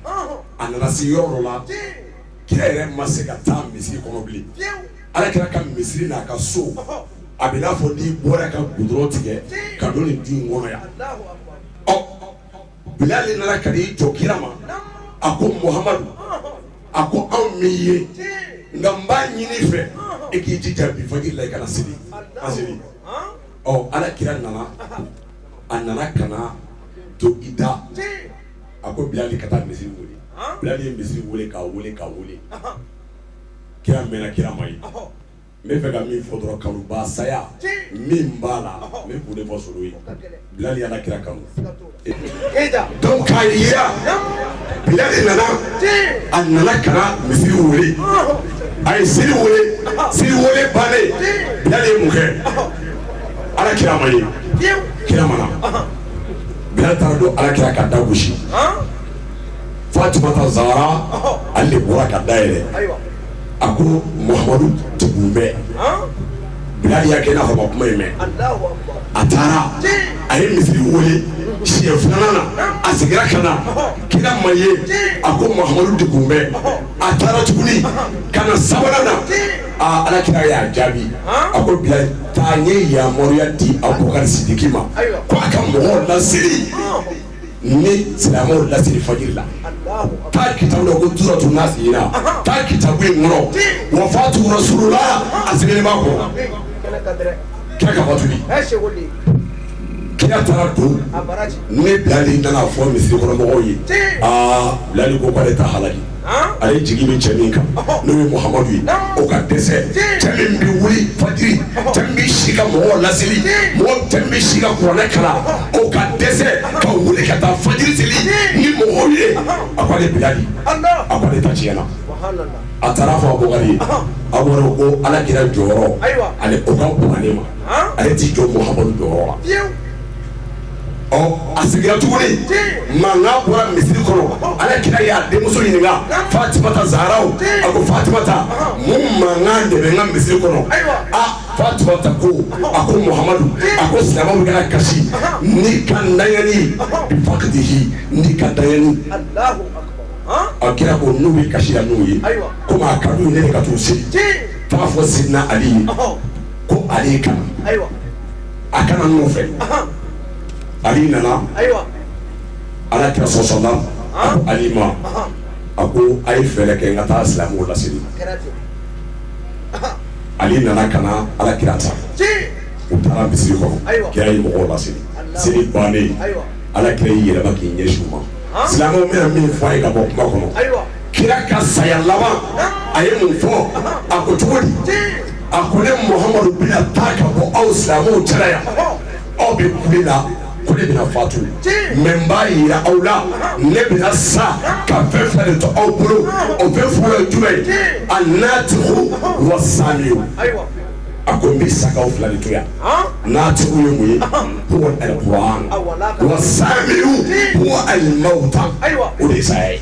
a nana se yɔrɔ la kira yɛrɛ ma se ka taa misiri kɔnɔ bilen ala kira ka misiri n'a ka so a bɛ n'a fɔ n'i bɔra ka gudɔrɔn tigɛ ka don nin du kɔnɔ yan Bilali nana ka na i jɔ kira ma a ko Mohamadu a ko anw m'i ye nka n b'a ɲini i fɛ i k'i jija bi fajiri la i ka na seli misiri alakira nana a nana ka na to i da a ko Bilali ka taa misiri wele Bilali ye misiri wele k'a wele k'a wele kira mɛnna kira ma ye n b'a fɛ ka min fɔ dɔrɔn kanubaa saya min b'a la n bɛ kun de fɔ solo ye Bilali y'Ala kira kanu donc k'a jira Bilali nana a nana ka na misiri weele a ye seli weele seli weele bannen Bilali ye mun kɛ Ala kira ma ye kira ma na Bilali taara don Ala kira ka da gosi Fatumata Zara ale de bɔra ka da yɛlɛ a ko muhamadu dɛgunnen bɛ bilali y'a kɛ n'a ma kuma in mɛn a taara a ye misiri weele siɲɛ filanan na a seginna ka na kira ma ye a ko muhamadu dɛgunnen bɛ a taara tuguni ka na sabanan na aa ala kira y'a jaabi a ko bilali taa n ye yamaruya di abubakari sidiki ma ko a ka mɔgɔw laseli ni silamɛw laseli fajiri la taa kita ko tora tun na sigi taa kitabu in kɔnɔ wafatu rasululahi a sigi b'a kɔnɔ kira ka fatu kɛra tarata don ne bilali nana fɔ misirikɔnɔmɔgɔw ye aa bilali ko k'ale ta hala ale jigi bɛ cɛ min kan n'o ye muhamadu ye o ka dɛsɛ cɛ min bɛ wuli fajiri cɛ bɛ si ka mɔgɔ laseli mɔgɔ cɛ bɛ si ka kuranɛ kalan o ka dɛsɛ ka wuli ka taa fajiri seli ni mɔgɔw ye a ko ale bilali a ko ale ta tiɲɛ na a taara fɔ abubakari ye a wɔɔrɔ ko ala kira jɔyɔrɔ ale o ka kuranɛ ma ale t'i jɔ muhamadu jɔyɔrɔ la ɔ a sigira tuguni mankan bɔra misiri kɔnɔ Ala kira y'a denmuso ɲininka Fatumata Zarawu a ko Fatumata mun mankan de bɛ n ka misiri kɔnɔ a Fatumata ko a ko Muhamadu a ko silamɛw bɛ ka kasi n'i ka ntanyali bi fakidihi n'i ka ntanyali ɔ kira ko n'u bɛ kasi la n'u ye komi a ka d'u ye ne de ka t'u seli f'a fɔ Sidina Ali ye ko ale ye ka na. a ka na n nɔfɛ ali nana ala kira sɔrɔ so la a ko ali ma a ko a ye fɛɛrɛ kɛ n ka taa silamɛw laseli ali nana ka na ala kira ta u taara misiri kɔnɔ kira ye mɔgɔw laseli seli bannen ala kira y'i yɛlɛma k'i ɲɛsin u ma silamɛw n bɛna min fɔ aw ye ka bɔ kuma kɔnɔ kira ka saya laban a ye mun fɔ a ko cogo di a ko ne muhamadu bɛna taa ka bɔ aw silamɛw cɛla yan aw bɛ kule la ko ne bɛna fatu mɛ n b'a yira aw la ne bɛna sa ka fɛn fila de to aw bolo o fɛn fɔlɔ ye jumɛn ye annatiku wa samitu a ko n bɛ sa ka fila de to yan natiku ye mun ye kuranɛ wa samitu ko alimawuta o de ye saya ye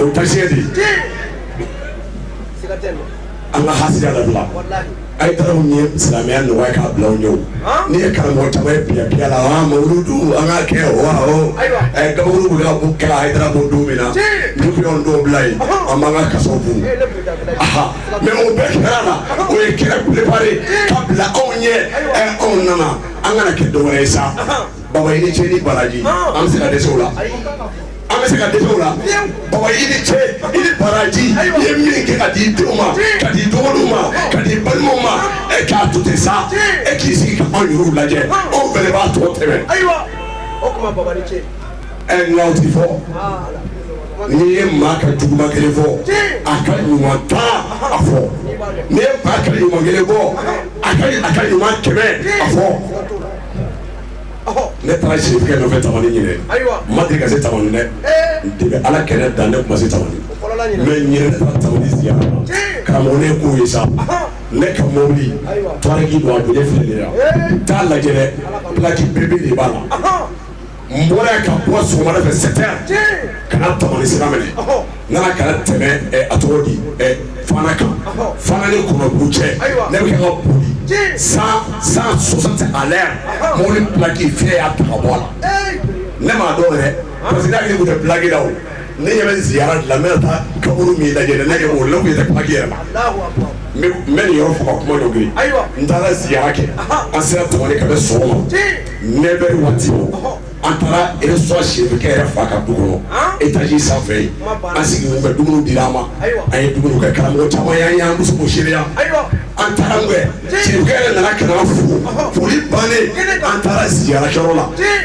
O ye taasi de an ka ha labila a ye taara ye silamɛya nɔgɔya k'a bila ye n'i ye karamɔgɔ caman ye biya la an ka kɛ a kaburu bɛ ka kun kɛra a taara don min na du dɔw bila yen an b'an ka kaso kun mɛ o bɛɛ kɛra la o ye kira bilenbari ka bila anw ɲɛ anw nana an kana kɛ dɔgɔ ye sa baba i ni ce i ni baraji an bɛ se ka dɛsɛ la an bɛ se ka dɛsɛ o la baba i ni ce i ni baraji i ye min kɛ ka di denw ma ka di dɔgɔninw ma ka di balimaw ma e k'a to ten sa e k'i sigi ka anw yɛrɛw lajɛ anw fɛnɛ b'a tɔ tɛmɛ ɛ nka o ti fɔ n'i ye maa ka juguman kelen fɔ a ka ɲuman tan a fɔ n'i ye maa ka ɲuman kelen fɔ a ka a ka ɲuman kɛmɛ a fɔ Ne taara si tigɛ nɔfɛ tamani ɲini ma deli ka se ta dɛ de ala kɛlɛ dan ne ma se ta karamɔgɔ ko ye sa ne ka mɔbili toki don a bɛ ne fili t'a lajɛki bɛɛbe de b'a la n bɔra ka bɔ so wɛrɛ fɛ sɛya ka tamani sira minɛ Nana ka tɛmɛ a tɔgɔ di fana kan fana ni kɔnɔbugu cɛ ne bɛ ka boli cent cent soixante ale yan mɔbili pilaki fiɲɛ y'a ta ka bɔ a la ne m'a dɔn yɛrɛ parce que yɛrɛ tun pilaki la o ne ɲɛ bɛ ziyara min taa kaburu min lajɛ ne kɛ o la yɛrɛ pilaki yɛrɛ n bɛ nin yɔrɔ faga kuma dɔ yen n taara ziyara kɛ an sera tɔgɔ ka bɛ so ma ne bɛ waati an taara sɔn sɛki yɛrɛ fa ka dugu e taaraki sanfɛ ye an sigi u ye dumuni di an ma a ye dugawu kɛ karamɔgɔ caman y' an muso se an taara yɛrɛ nana k'an fo foli bannen an taara sigi la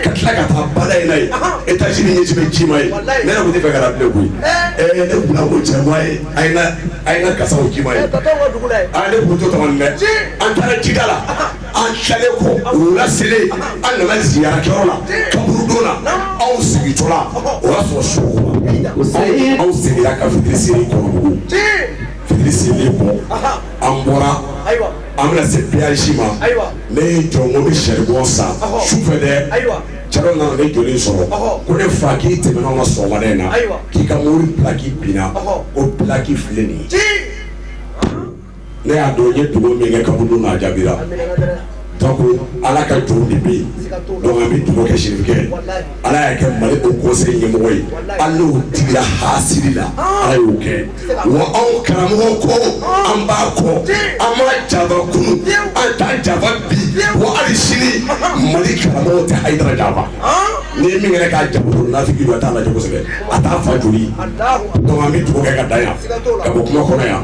ka tila ka taa ba in ye e tɛ ɲɛ ci ma ye ne tun tɛ fɛ ka bila koyi ne cɛ ye a a kasaw ci ma ye ale tɔgɔ an taara jida la an taalen kɔ wula selen an nana ziyarakɛyɔrɔ la kaburudon na anw segintɔla o y'a sɔrɔ su kora anw seginna ka fitiri seli kɔnɔbugu fitiri seli kɔ an bɔra an bɛna se peyasi ma ne ye n jɔ n ko n bɛ saribon san su fɛ dɛ cɛ dɔ nana ne jɔlen sɔrɔ ko ne fa k'i tɛmɛna anw kan sɔgɔmada in na k'i ka mɔbili pilaki binna k'o pilaki filɛ nin ye ne y'a dɔn i ye dugawu min kɛ kaburu na a jaabira ko ala ka jɔn de bɛ yen bɛ dugawu kɛ serifu ye ala y'a kɛ mali haut conseil ɲɛmɔgɔ ye ala tigila hasidi la ala y'o kɛ wa anw karamɔgɔ ko an b'a kɔ an ma jaabi kunun an t'a jaabi bi wa ali sini mali karamɔgɔ tɛ ayidara jaabi ni ye min kɛ ka jafin t'a la kosɛbɛ a taa fa joli bɛ dugu kɛ ka da yan ka bɔ kuma kɔnɔ yan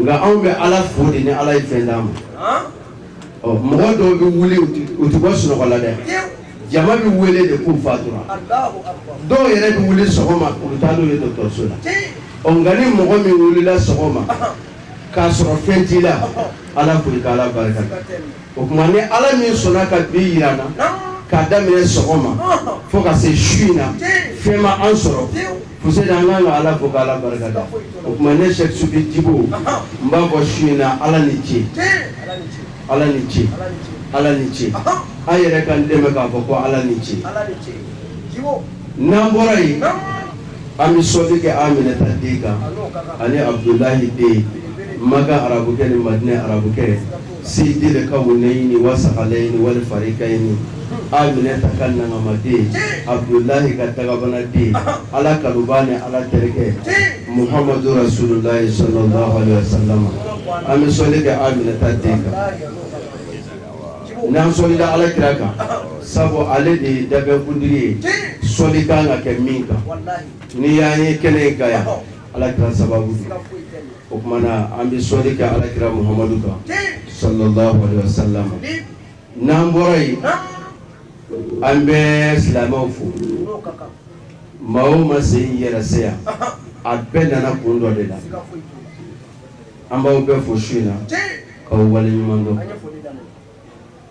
nka anw bɛ ala fo de ni ala ye fɛn d'an ma ɔ mɔgɔ dɔw bɛ wuli u tɛ bɔ sunɔgɔ la dɛ jama bɛ wele de k'u fatura dɔw yɛrɛ bɛ wuli sɔgɔma u bɛ taa n'u ye dɔgɔtɔrɔso la ɔ nka ni mɔgɔ min wulila sɔgɔma k'a sɔrɔ fɛn t'i la ala fo i ka ala barika o tuma ni ala min sɔnna ka bi yira an na k'a daminɛ sɔgɔma fo ka se su in na fɛn ma an sɔrɔ Fo an ka kan ka ala fo ala barika da o tuma ne sɛ su bɛ jibo n b'a fɔ su in na ala ni ce ala ni ce ala ni ce aw yɛrɛ ka n dɛmɛ k'a fɔ ko ala ni ce n'an bɔra yen an bɛ sɔli kɛ aminata den kan ani abudulayi den maka arabukɛ ni madina arabukɛ sayidul kawunayini wa sakalayini wali farikayini aminata ka nankamaden abudulayi ka dakabanaden ala kanubaa ni ala terikɛ muhamadu rasululayi sa sama an bɛ sɔli kɛ aminata den kan n'an sɔlila ala kira kan sabu ale de ye danfɛn kuntigi ye sɔli ka kan ka kɛ min kan n'i y'an ye kɛnɛ in kan yan Ala kira sababu o tuma na an bɛ sɔli kɛ ala kira muhamadu kan sa sa n'an bɔra yen an bɛ silamɛw fo maa o maa se yɛrɛ se yan a bɛɛ nana kun dɔ de la an b'aw bɛɛ fo su in na k'aw wale ɲuman dɔn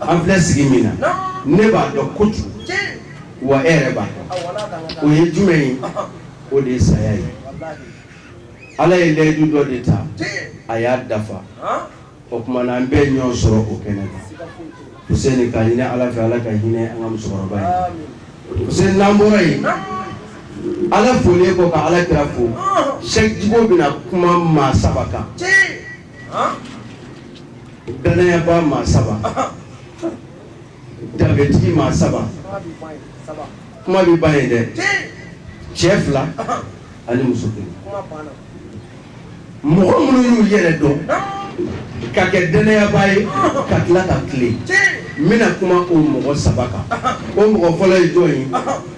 An filɛ sigi min na ne b'a dɔn ko kojugu wa e yɛrɛ b'a dɔn o ye jumɛn ye o de ye saya ye ala ye layidu dɔ de ta a y'a dafa o tuma na an bɛ ɲɔgɔn sɔrɔ o kɛnɛ na k'a ɲini ala fɛ ala ka hinɛ an ka musokɔrɔba ye n'an bɔra yen ala folen kɔ ka ala kira fo sɛki jibo bɛna kuma maa saba kan Dannayabaa maa saba danbetigi maa saba kuma bɛ ba ye dɛ cɛ fila ani muso kelen mɔgɔ minnu y'u yɛrɛ dɔn ka kɛ dannayabaa ye ka tila ka tilen n bɛna kuma o mɔgɔ saba kan o mɔgɔ fɔlɔ ye jɔn ye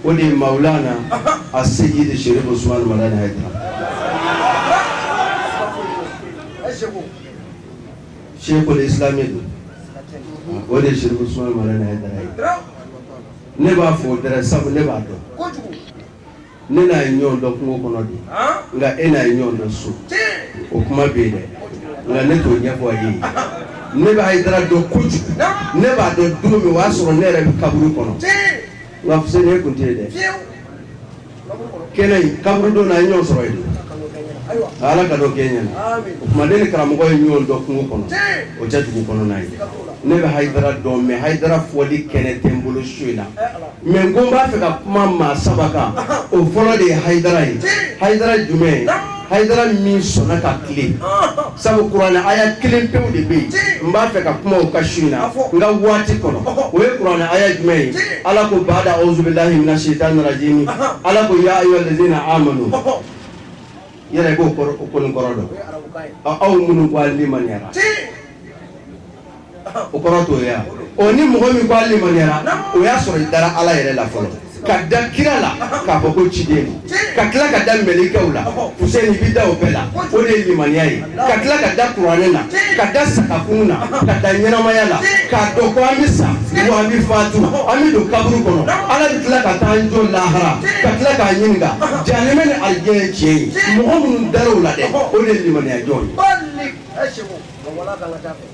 o de ye mawulana aseyidi serifu usumani madani ayidara shekul islami don o de ye sherifu usumani madani hayidara ye ne b'a fɔ hayidara sabu ne b'a dɔn ne n'a ye ɲɔgɔn dɔn kungo kɔnɔ de nka e n'a ye ɲɔgɔn dɔn so o kuma bɛ yen dɛ nka ne t'o ɲɛfɔ a ye ne bɛ hayidara dɔn kojugu ne b'a dɔn don min o y'a sɔrɔ ne yɛrɛ bɛ kaburu kɔnɔ nka fuseni e kun tɛ yen dɛ kɛnɛ in kaburudo na an ye ɲɔgɔn sɔrɔ yen ala ka dɔ kɛ ɲɛna o tuma ne ni karamɔgɔ ye ɲɔgɔn dɔn kungo kɔnɔ o tɛ dugu kɔnɔna ye ne bɛ hayidara dɔn mais hayidara fɔli kɛnɛ tɛ n bolo su in na mais n ko n b'a fɛ ka kuma maa saba kan o fɔlɔ de ye hayidara ye hayidara jumɛn ye hayidara min sɔnna ka tile sabu kuranɛ aya kelen pewu de bɛ yen n b'a fɛ ka kuma o kan su in na n ka waati kɔnɔ o ye kuranɛ aya jumɛn ye ala ko baada awuzubilahi mina sitani rajimi ala ko ya ayyuha allazina amanu i yɛrɛ b'o kɔni kɔrɔ dɔn aw minnu ko a limaniyara o kɔrɔ t'o ye o ni mɔgɔ min ko a limaniyara o y'a sɔrɔ i dara ala yɛrɛ la fɔlɔ ka da kira la k'a fɔ ko ciden don ka tila ka da mɛlikɛw la fuseni i bɛ da o bɛɛ la o de ye limaniya ye ka tila ka da kuranɛ la ka da sa ka kunun na ka da ɲɛnamaya la k'a dɔn ko an bɛ sa wa an bɛ fatu an bɛ don kaburu kɔnɔ ala bɛ tila ka taa an jɔ lahara ka tila k'an ɲininka janɛmɛ ni alijɛnɛ ye tiɲɛ ye mɔgɔ minnu dar'o la dɛ o de ye limaniyajɔn ye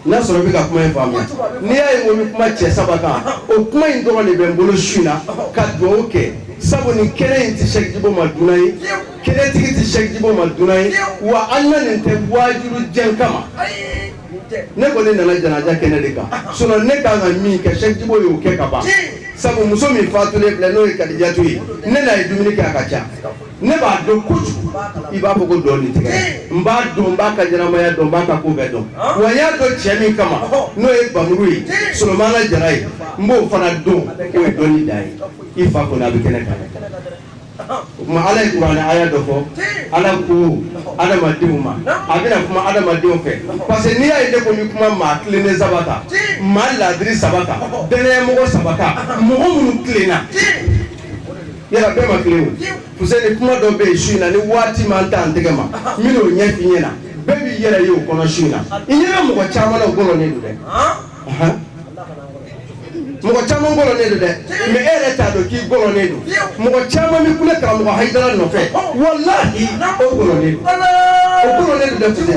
n'a sɔrɔ i bɛ ka kuma in faamuya n'i y'a ye ko n bɛ kuma cɛ saba kan o kuma in dɔrɔn de bɛ n bolo su in na ka dugawu kɛ sabu nin kɛnɛ in tɛ Sɛki Jibo ma dunan ye kɛnɛtigi tɛ Sɛki Jibo ma dunan ye wa an nanen tɛ waajuli jan kama ne kɔni nana janaja kɛnɛ de kan sinon ne kan ka min kɛ Sɛki Jibo y'o kɛ ka ban sabu muso min faatulen filɛ n'o ye Kadijatu ye ne n'a ye dumuni kɛ a ka ca ne b'a dɔn kojugu i b'a fɔ ko dɔnni tɛ n b'a dɔn n b'a ka ɲɛnamaya dɔn n b'a ka ko bɛɛ dɔn wa n y'a dɔn cɛ min kama n'o ye bamuru ye solomana jara ye n b'o fana dɔn o ye dɔnni da ye i fa kɔni a bɛ kɛnɛ kan o tuma ala ye kuranɛ aya dɔ fɔ ala ko adamadenw ma a bɛna kuma adamadenw fɛ parce que n'i y'a ye ne ko ni kuma maa tilennen saba ta maa laadiri saba ta dannayamɔgɔ saba ta mɔgɔ minnu tilenna Yala bɛɛ ma kelen ye o fuseni kuma dɔ bɛ yen su in na ni waati m'an ta an tɛgɛ ma n bɛn'o ɲɛfɔ i ɲɛna bɛɛ b'i yɛrɛ ye o kɔnɔ su in na i ɲɛ bɛ mɔgɔ caman na o gɔlɔnnen don dɛ, anhan, mɔgɔ caman gɔlɔnnen don dɛ mais e yɛrɛ t'a dɔn k'i gɔlɔnnen don, mɔgɔ caman bɛ kule karamɔgɔ Hayidara nɔfɛ walahi o gɔlɔnnen don, o gɔlɔnnen don dɛ fuseni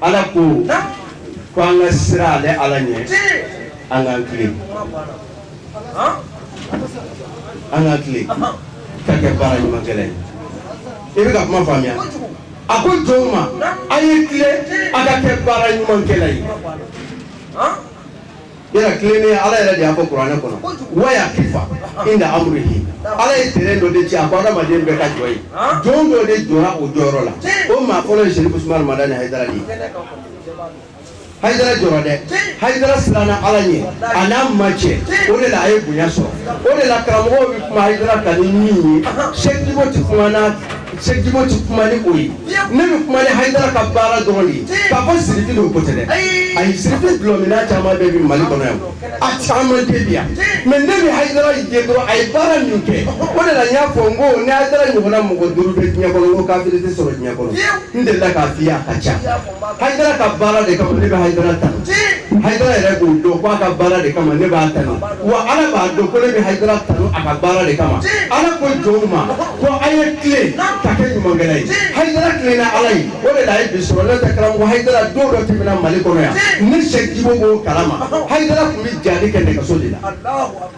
ala ko ko an ka siran ale ala ɲɛ an k'an tilen an ka tilen ka kɛ baara ɲuman kɛla i bɛ ka kuma faamuya a ko jɔnw ma a ye tilen a ka kɛ baara ɲuman kɛla ye Yala tilennenya Ala yɛrɛ de y'a fɔ kuranɛ kɔnɔ, Ala ye terrain dɔ de ci a ko adamaden bɛɛ ka jɔ yen, jɔn dɔ de jɔra o jɔyɔrɔ la, o maa fɔlɔ ye Sɛrifu Usumani Madani Hayidara de ye, Hayidara jɔra dɛ, Hayidara siranna Ala ɲɛ a n'a ma cɛ, o de la a ye bonya sɔrɔ, o de la karamɔgɔw bɛ kuma Hayidara kan ni min ye Sɛki Jibo tɛ kuma n'a Sɛ Jibo tɛ kuma ni o ye ne bɛ kuma hayidara ka baara dɔrɔn ye k'a fɔ sirifi don ko tɛ ayi sirifi bilenman caman bɛ mali kɔnɔ yan a caman tɛ yan mɛ ne bɛ hayidara dɔrɔn a ye baara min kɛ o de la y'a fɔ n ko n' ɲɔgɔn mɔgɔ duuru diɲɛ kɔnɔ k'a tɛ sɔrɔ diɲɛ kɔnɔ n de da k'a fɔ a ka ca Haidara ka baara de kama ne bɛ Haidara tanu, tiɲɛ, Haidara yɛrɛ b'o dɔn k'a ka baara de kama ne b'a tanu wa Ala b'a dɔn ko ne bɛ Haidara tanu a ka baara de kama, tiɲɛ, Ala ko jɔnw ma ko a' ye tilen ka kɛ ɲumankɛla ye, tiɲɛ, Haidara tilenna Ala ye o de la a ye bi sɔrɔ n'o tɛ karamɔgɔ Haidara don dɔ tɛmɛna Mali kɔnɔ yan, tiɲɛ, ne Sɛki Jibo b'o kalama, ɔhɔ, Haidara tun bɛ jihadi kɛ nɛgɛso de la, Alahu akibaru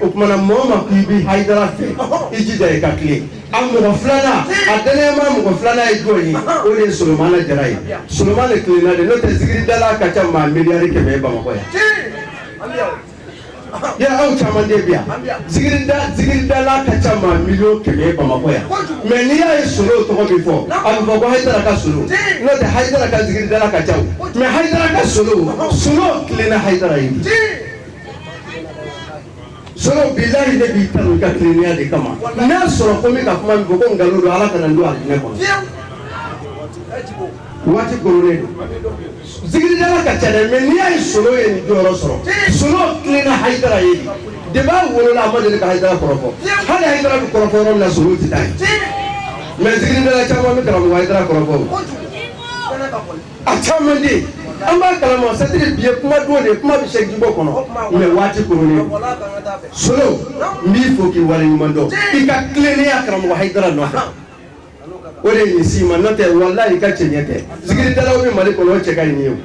o tuma na mɔgɔ ma k'i bi hayidara fɛ i jija i ka tilen a mɔgɔ filanan a danayama mɔgɔ filanan ye jɔn ye o de ye solomana jara ye solomana de tilenna dɛ n'o tɛ zikiridala ka ca maa miliyari kɛmɛ ye bamakɔ yan yala aw caman de bi yan zikirida zikiridala ka ca maa miliyɔn kɛmɛ ye bamakɔ yan mɛ n'i y'a ye solo tɔgɔ bi fɔ a bɛ fɔ ko hayidara ka solo n'o tɛ hayidara ka zikiridala ka ca mɛ hayidara ka solo solo tilenna hayidara ye bi solo bilahi ne b'i kanu i ka tilennenya de kama n'a sɔrɔ ko n bɛ ka kuma min fɔ ko nkalon don ala kana n don alijinɛ kɔnɔ waati koronnen don zikiridala ka ca dɛ mɛ n'i y'a ye solo ye nin jɔyɔrɔ sɔrɔ solo tilenna hayidara ye de depuis a wolola a ma deli ka hayidara kɔrɔfɔ hali hayidara bɛ kɔrɔfɔ yɔrɔ min na solo tɛ taa yen mɛ zikiridala caman bɛ karamɔgɔ hayidara kɔrɔfɔ o a caman bɛ yen an b'a kalama c'est-à-dire bi ye kuma don de ye kuma bɛ se jibo kɔnɔ mɛ waati koronnen solo n b'i fo k'i wale ɲuman dɔn i ka tilennenya karamɔgɔ hayidara nɔfɛ o de ye si ma n'o tɛ walayi i ka cɛɲɛ tɛ zikiridalaw bɛ mali kɔnɔ o cɛ ka ɲi e ye o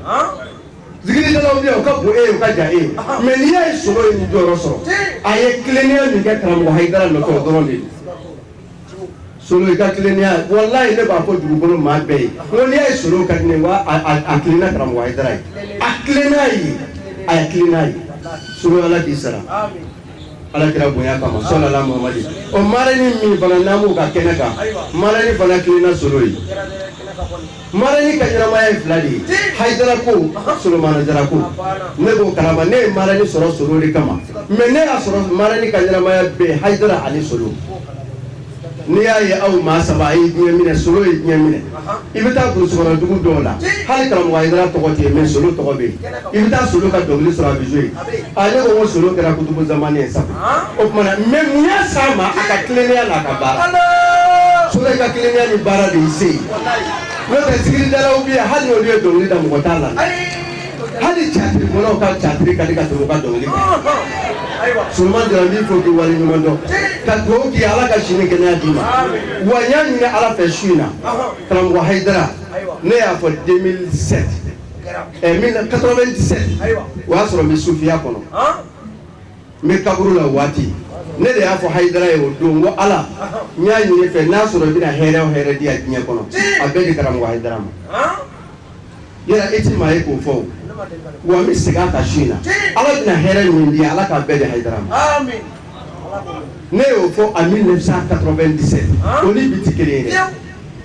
zikiridalaw bɛ yan o ka bon e ye o ka jan e ye mɛ n'i y'a ye solo ye nin jɔyɔrɔ sɔrɔ a ye tilennenya min kɛ karamɔgɔ hayidara nɔfɛ o dɔrɔn de ye solo i ka tilennenya walayi ne b'a fɔ dugukolo maa bɛɛ ye ko n'i y'a ye solo ka di ne ye wa a a a tilenna karamɔgɔ hayidara ye a tilenna ye a ye tilenna ye solo ala k'i sara ala kira bonya kama sɔlala mamadi o marani min fana n'an b'o ka kɛnɛ kan marani fana tilenna solo ye marani ka ɲɛnamaya ye fila de ye hayidara ko solomana jara ko ne b'o kalama ne ye marani sɔrɔ solo de kama mɛ ne y'a sɔrɔ marani ka ɲɛnamaya bɛɛ hayidara ani solo N'i y'a ye aw maa saba ye diɲɛ minɛ solo ye diɲɛ minɛ i bɛ taa dugu dɔw la hali karamɔgɔ i tɔgɔ tɛ mɛn solo tɔgɔ bɛ i bɛ taa solo ka dɔnkili sɔrɔ a ye ale ko ko solo kɛra kutubu zamani ye sa o tuma mɛ mun ye sa ma a ka tilenya n'a ka baara so ka tilenya ni baara de se n'o tɛ sigida bɛ hali olu ye dɔnkili da mɔgɔ t'a la hali tiyatiri bɔlaw ka tiyatiri ka di ka tɛmɛ u ka dɔnkili kan Suleman Jara n b'i fo k'i wale ɲuman dɔn ka dugawu k'i ye Ala ka si ni kɛnɛya d'i ma wa n y'a ɲini Ala fɛ su in na karamɔgɔ Hayidara ne y'a fɔ 2007 ɛ 97 o y'a sɔrɔ n bɛ sufiya kɔnɔ n bɛ kaburu la o waati ne de y'a fɔ Hayidara ye o don n ko Ala n y'a ɲini i fɛ n'a sɔrɔ i bɛna hɛrɛ o hɛrɛ di yan diɲɛ kɔnɔ a bɛɛ di karamɔgɔ Hayidara ma. e tɛ maa ye k'o fɔ o wa n bɛ segin a kan su in na Ala bɛna hɛrɛ min di Ala k'a bɛɛ di Hayidara ma amin ne y'o fɔ en 1997 ah. o ni bi tɛ kelen ye dɛ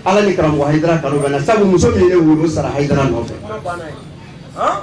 Ala ni karamɔgɔ Hayidara kanu bɛ n na sabu muso min ye ne wolo o sara Hayidara nɔfɛ ah.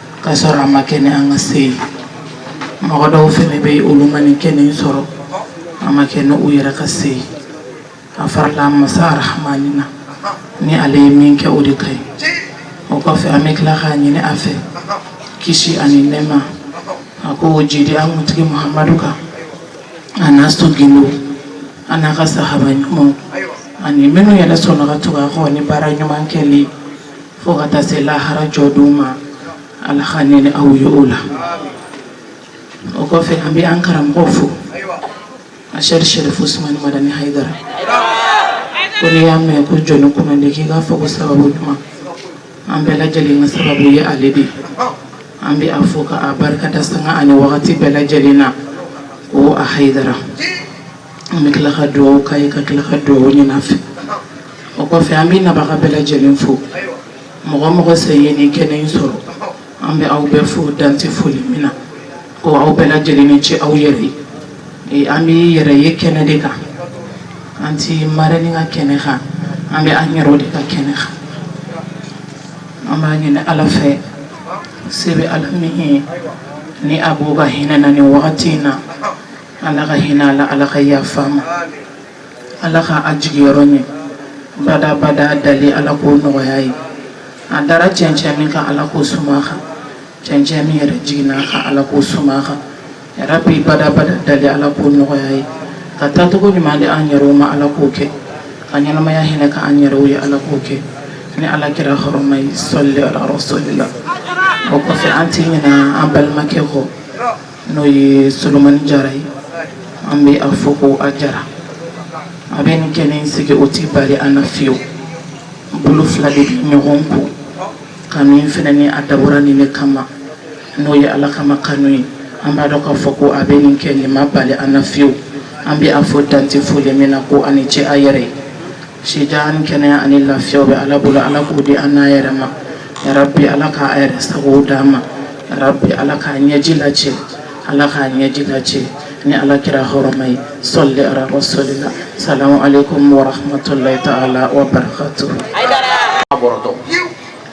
Ka sɔrɔ a ma kɛ ni an ka se ye mɔgɔ dɔw fana bɛ yen olu ma nin kɛnɛ sɔrɔ a ma kɛ ni u yɛrɛ ka se ye a farala masa rahamani na ni ale ye min kɛ o de ka ye o kɔfɛ an bɛ tila k'a ɲini a fɛ kisi ani nɛɛma a k'o jigin an kuntigi mahamadu kan ani a somɔgɔw ani a ka sahaba ɲuman ani minnu yɛrɛ sɔnna ka tugu a kɔ ni baara ɲuman kɛlen fo ka taa se lahara jɔdon ma ala ka ne ni aw ye o la o kɔfɛ an bɛ an karamɔgɔ fo ashɛki sɛrifu usumani madani hayidara ko n'i y'a mɛn ko jɔn kunnandi k'i k'a fɔ ko sababu ɲuman an bɛɛ lajɛlen ka sababu ye ale de ye an bɛ a fo ka a barika da sanga ani wagati bɛɛ lajɛlen na ko a hayidara an bɛ tila ka dugawu k'a ye ka tila ka dugawu ɲini a fɛ o kɔfɛ an bɛ nabaga bɛɛ lajɛlen fo mɔgɔ o mɔgɔ sen ye nin kɛnɛ in sɔrɔ an bɛ aw bɛɛ fo dan tɛ foli min na ko aw bɛɛ lajɛlen ni ce aw yɛrɛ ye an bɛ an yɛrɛ ka kɛnɛ de kan an tɛ maa ni ka kɛnɛ kan an bɛ an yɛrɛ de ka kɛnɛ kan an b'a ɲini ala fɛ se bɛ ala min ye ni a b'o ka hinɛ an na nin wagati in na Ala ka hinɛ a la Ala ka yafa a ma Ala ka a jiginyɔrɔ ɲɛ bada-bada dalen Ala k'o nɔgɔya a ye a dara cɛncɛn min kan Ala k'o suma a kan cɛncɛn min yɛrɛ jiginna a kan Ala k'o suma a kan yarabi bada-bada dalen Ala k'o nɔgɔya a ye ka taacogo ɲuman di an yɛrɛw ma Ala k'o kɛ ka ɲɛnamaya hinɛ kɛ an yɛrɛw ye Ala k'o kɛ ni Ala kira hɔrɔma ye sɔli Ala rasulila o kɔfɛ an tɛ ɲinɛ an balimakɛ kɔ n'o ye solomani jara ye an bɛ a fo ko a jara a bɛ nin kɛnɛ sigi o tɛ bali an n'a fo bolo fila de bɛ ɲɔgɔn ko kanu in fana ni a dabɔra nin de kama n'o ye ala kama kanu ye an b'a dɔn k'a fɔ ko a bɛ nin kɛ nin ma bali an n'a fo an bɛ a fo dan tɛ foli min na ko a ni ce a yɛrɛ ye Si jan ni kɛnɛya ani lafiya bɛ ala bolo ala k'o di an n'a yɛrɛ ma yarabi ala ka a yɛrɛ sago d'an ma yarabi ala k'a ɲɛji lacɛ ala k'a ɲɛji lacɛ ni ala kira hɔrɔma ye sɔli ala rasulila salamu aleyikum wa rahmatulahi taala wabarakatuhu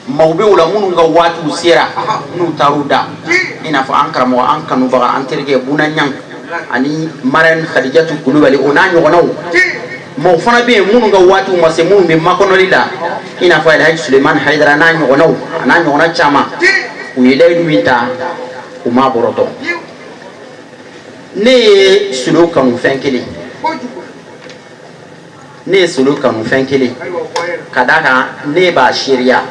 Maaw bɛ o la minnu ka waatiw sera n'u taara u da i n'a fɔ an karamɔgɔ an kanubaga an terikɛ byan ani mara in kadijatu kulubali o n'a ɲɔgɔnw mɔgɔ fana bɛ yen minnu ka waati ma se minnu bɛ makɔnɔli la i n'a a ye solomani ha n'a ɲɔgɔnw a n'a ɲɔgɔn caman u ye layidu min ta u ma bɔtɔ ne ye solo kanu fɛn kelen ne ye solo kanu fɛn kelen ka da kan ne b'a seereya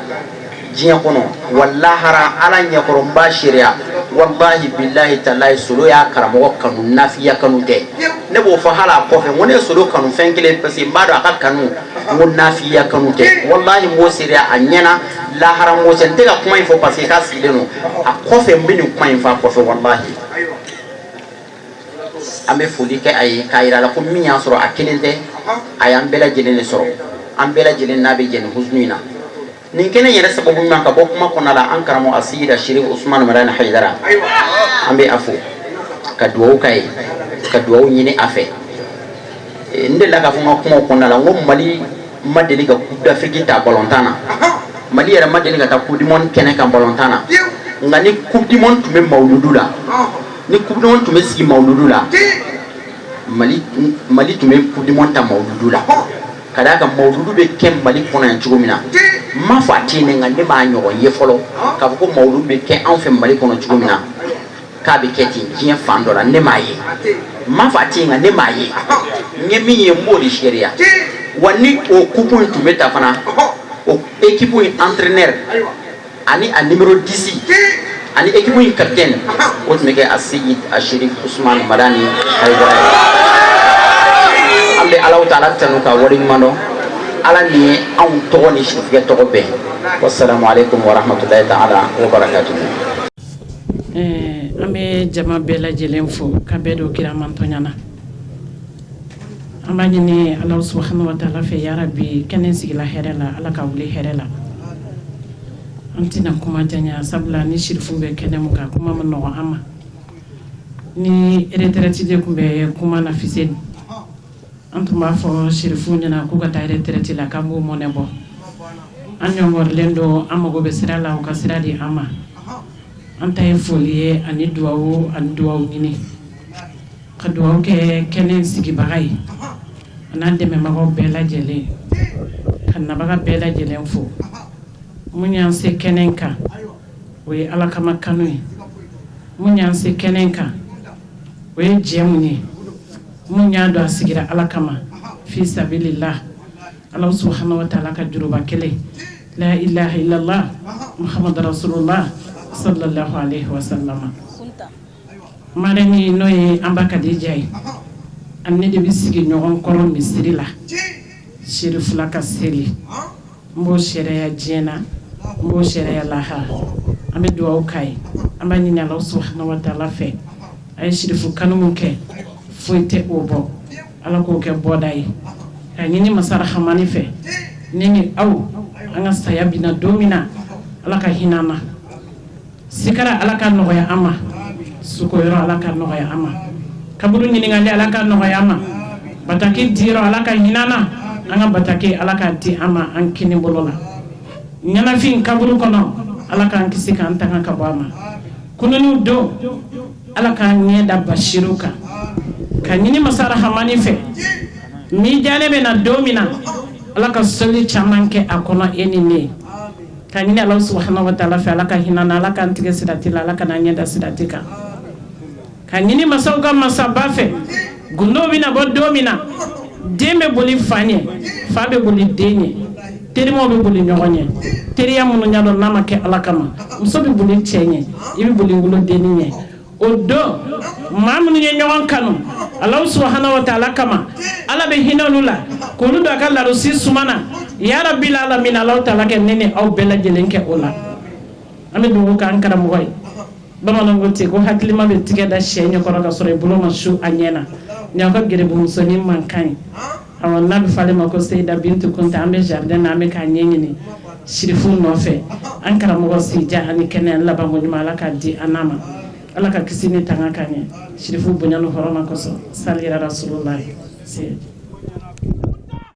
diɲɛ kɔnɔ wa lahara ala ɲɛkɔrɔ n b'a seereya walahi bilayi talayi solo y'a karamɔgɔ kanu nafigiya kanu tɛ ne b'o fɔ hali a kɔfɛ ko ne ye solo kanu fɛn kelen parce que n b'a dɔn a ka kanu ko nafigiya kanu tɛ walahi mɔgɔ se a ɲɛna lahara mɔ n tɛ ka kuma in fɔ parce que a sigilen don a kɔfɛ n bɛ nin kuma in fɔ a kɔfɛ walahi An bɛ foli kɛ a ye k'a jira a la ko min y'a sɔrɔ a kelen tɛ a y'an bɛɛ lajɛlen de sɔrɔ an bɛɛ lajɛlen de bɛ jɛ nin kojugu in na nin kelen yɛrɛ sababu min ka bɔ kuma kɔnɔ la an karamɔgɔ aseyidi serifu usumani hayidara an bɛ a fo ka dugawu kɛ a ye ka dugawu ɲini a fɛ n delila k'a fɔ n ka kuma kɔnɔna la ko mali ma deli ka coupe d'Afrique ta balɔn na mali yɛrɛ ma deli ka taa coupe du monde kɛnɛ kan balɔn na nka ni coupe du monde tun bɛ mawludu la ni coupe du monde tun bɛ sigi maludu la mali tun bɛ coupe du monde ta maludu la ka d'a kan maludu bɛ kɛ mali kɔnɔ yan cogo min na n ma fɔ a tɛ yen nka ne m'a ɲɔgɔn ye fɔlɔ k'a fɔ ko maludu bɛ kɛ anw fɛ mali kɔnɔ cogo min na k'a bɛ kɛ ten diɲɛ fan dɔ la ne m'a ye n ma fɔ a tɛ nka ne m'a ye n ye min ye n b'o de seereya wa ni o coupe in tun bɛ ta fana o équipe in antrɛnɛ ani a numéro 10 ani équipe in capitaine o tun bɛ kɛ Aseyidi Sirifu Usumani Madani Ayidara an bɛ Alahu Taala tanu ka wale ɲuman dɔn Ala min ye anw tɔgɔ ni sitigɛ tɔgɔ bɛn wasalamu aleykum wa rahmatulahi taala wa barakatuhu. Ɛɛ an bɛ jama bɛɛ lajɛlen fo ka bɛɛ don kira mantɔnya na. An b'a ɲini Alahu subahana wataala fɛ yarabi kɛnɛ in sigila hɛrɛ la Ala k'a wuli hɛrɛ la, an tɛna kuma janyan sabula ni sirifu bɛ kɛnɛ min kan kuma man nɔgɔn an ma, ni retraite de tun bɛ kuma na Fuseni an tun b'a fɔ sirifuw ɲɛna k'u ka taa retraite la k'an b'u mɔnɛ bɔ, an ɲɔngɔrilen don an mago bɛ sira la u ka sira di an ma, an ta ye foli ye ani dugawu ani dugawu ɲini ka dugaw kɛ kɛnɛ sigibaga ye an'an dɛmɛbagaw bɛɛ lajɛlen ka nabaga bɛɛ lajɛlen fo mun y'an se kɛnɛ in kan o ye ala kama kanu ye mun y'an se kɛnɛ in kan o ye jɛ mun ye min y'a dɔn a sigira ala kama fi sabililahi ala subhana wa taala ka juruba kelen la ilaha illallah muhamadu rasulullah sallallahu alaihi wasallam ma n'o ye an ba Kadija ye an ne de bɛ sigi ɲɔgɔn kɔrɔ misiri la Serifula ka seli n b'o seereya diɲɛ na n b'o seereya lahara an bɛ dugawu k'a ye an b'a ɲini ala subhana wa taala fɛ a ye sirifu kanu kɛ foyi tɛ o bɔ ala k'o kɛ bɔda ye ka ɲini masa rahamani fɛ ne ni aw an ka saya bɛ na don min na ala ka hinɛ ma sigira ala ka nɔgɔya an ma su ala ka nɔgɔya an ma kaburu ɲininkali ala ka nɔgɔya an ma bataki di ala ka hinɛ an na an ka bataki ala ka di an ma an kininbolo la ɲɛnafin kaburu kɔnɔ ala k'an kisi k'an tanga ka bɔ a ma kunun don ala k'an ɲɛ da basiru kan ka ɲini masa rahamani fɛ mizani bɛ na don min na ala ka soli caman kɛ a kɔnɔ e ni ne Ka ɲini Alahu subahana wa taala fɛ Ala ka hinɛ an na Ala k'an tigɛ sirati la Ala kan'an ɲɛ da sirati kan ka ɲini masaw ka masaba fɛ gundo bɛna bɔ don min na den bɛ boli fa ɲɛ fa bɛ boli den ɲɛ terimaw bɛ boli ɲɔgɔn ɲɛ teriya minnu y'a dɔn n'a ma kɛ Ala kama muso bɛ boli cɛ ɲɛ i bɛ boli wolodennin ɲɛ o don maa minnu ye ɲɔgɔn kanu alahu subhana wa taala kama ala bɛ hinɛ olu la k'olu don a ka larasi suma na yarabil alamina alahu taala ka ne ni aw bɛɛ lajɛlen kɛ o la an bɛ dugawu k'an karamɔgɔ ye bamananw ko ten ko hakilima bɛ tigɛ da sɛ ɲɛkɔrɔ ka sɔrɔ i bolo ma su a ɲɛ na ni aw ka gɛrɛbumusonin mankan ye Ɔ n'a bɛ fɔ ale ma ko Seyida Bintu Kɔnte an bɛ jardin na an bɛ k'a ɲɛɲini sirifu nɔfɛ an karamɔgɔ sijan ani kɛnɛya ni labanko ɲuman Ala k'a di an n'a ma Ala ka kisi ni tanga k'a ye sirifu bonya ni hɔrɔma kɔsɔn sali yarasululahi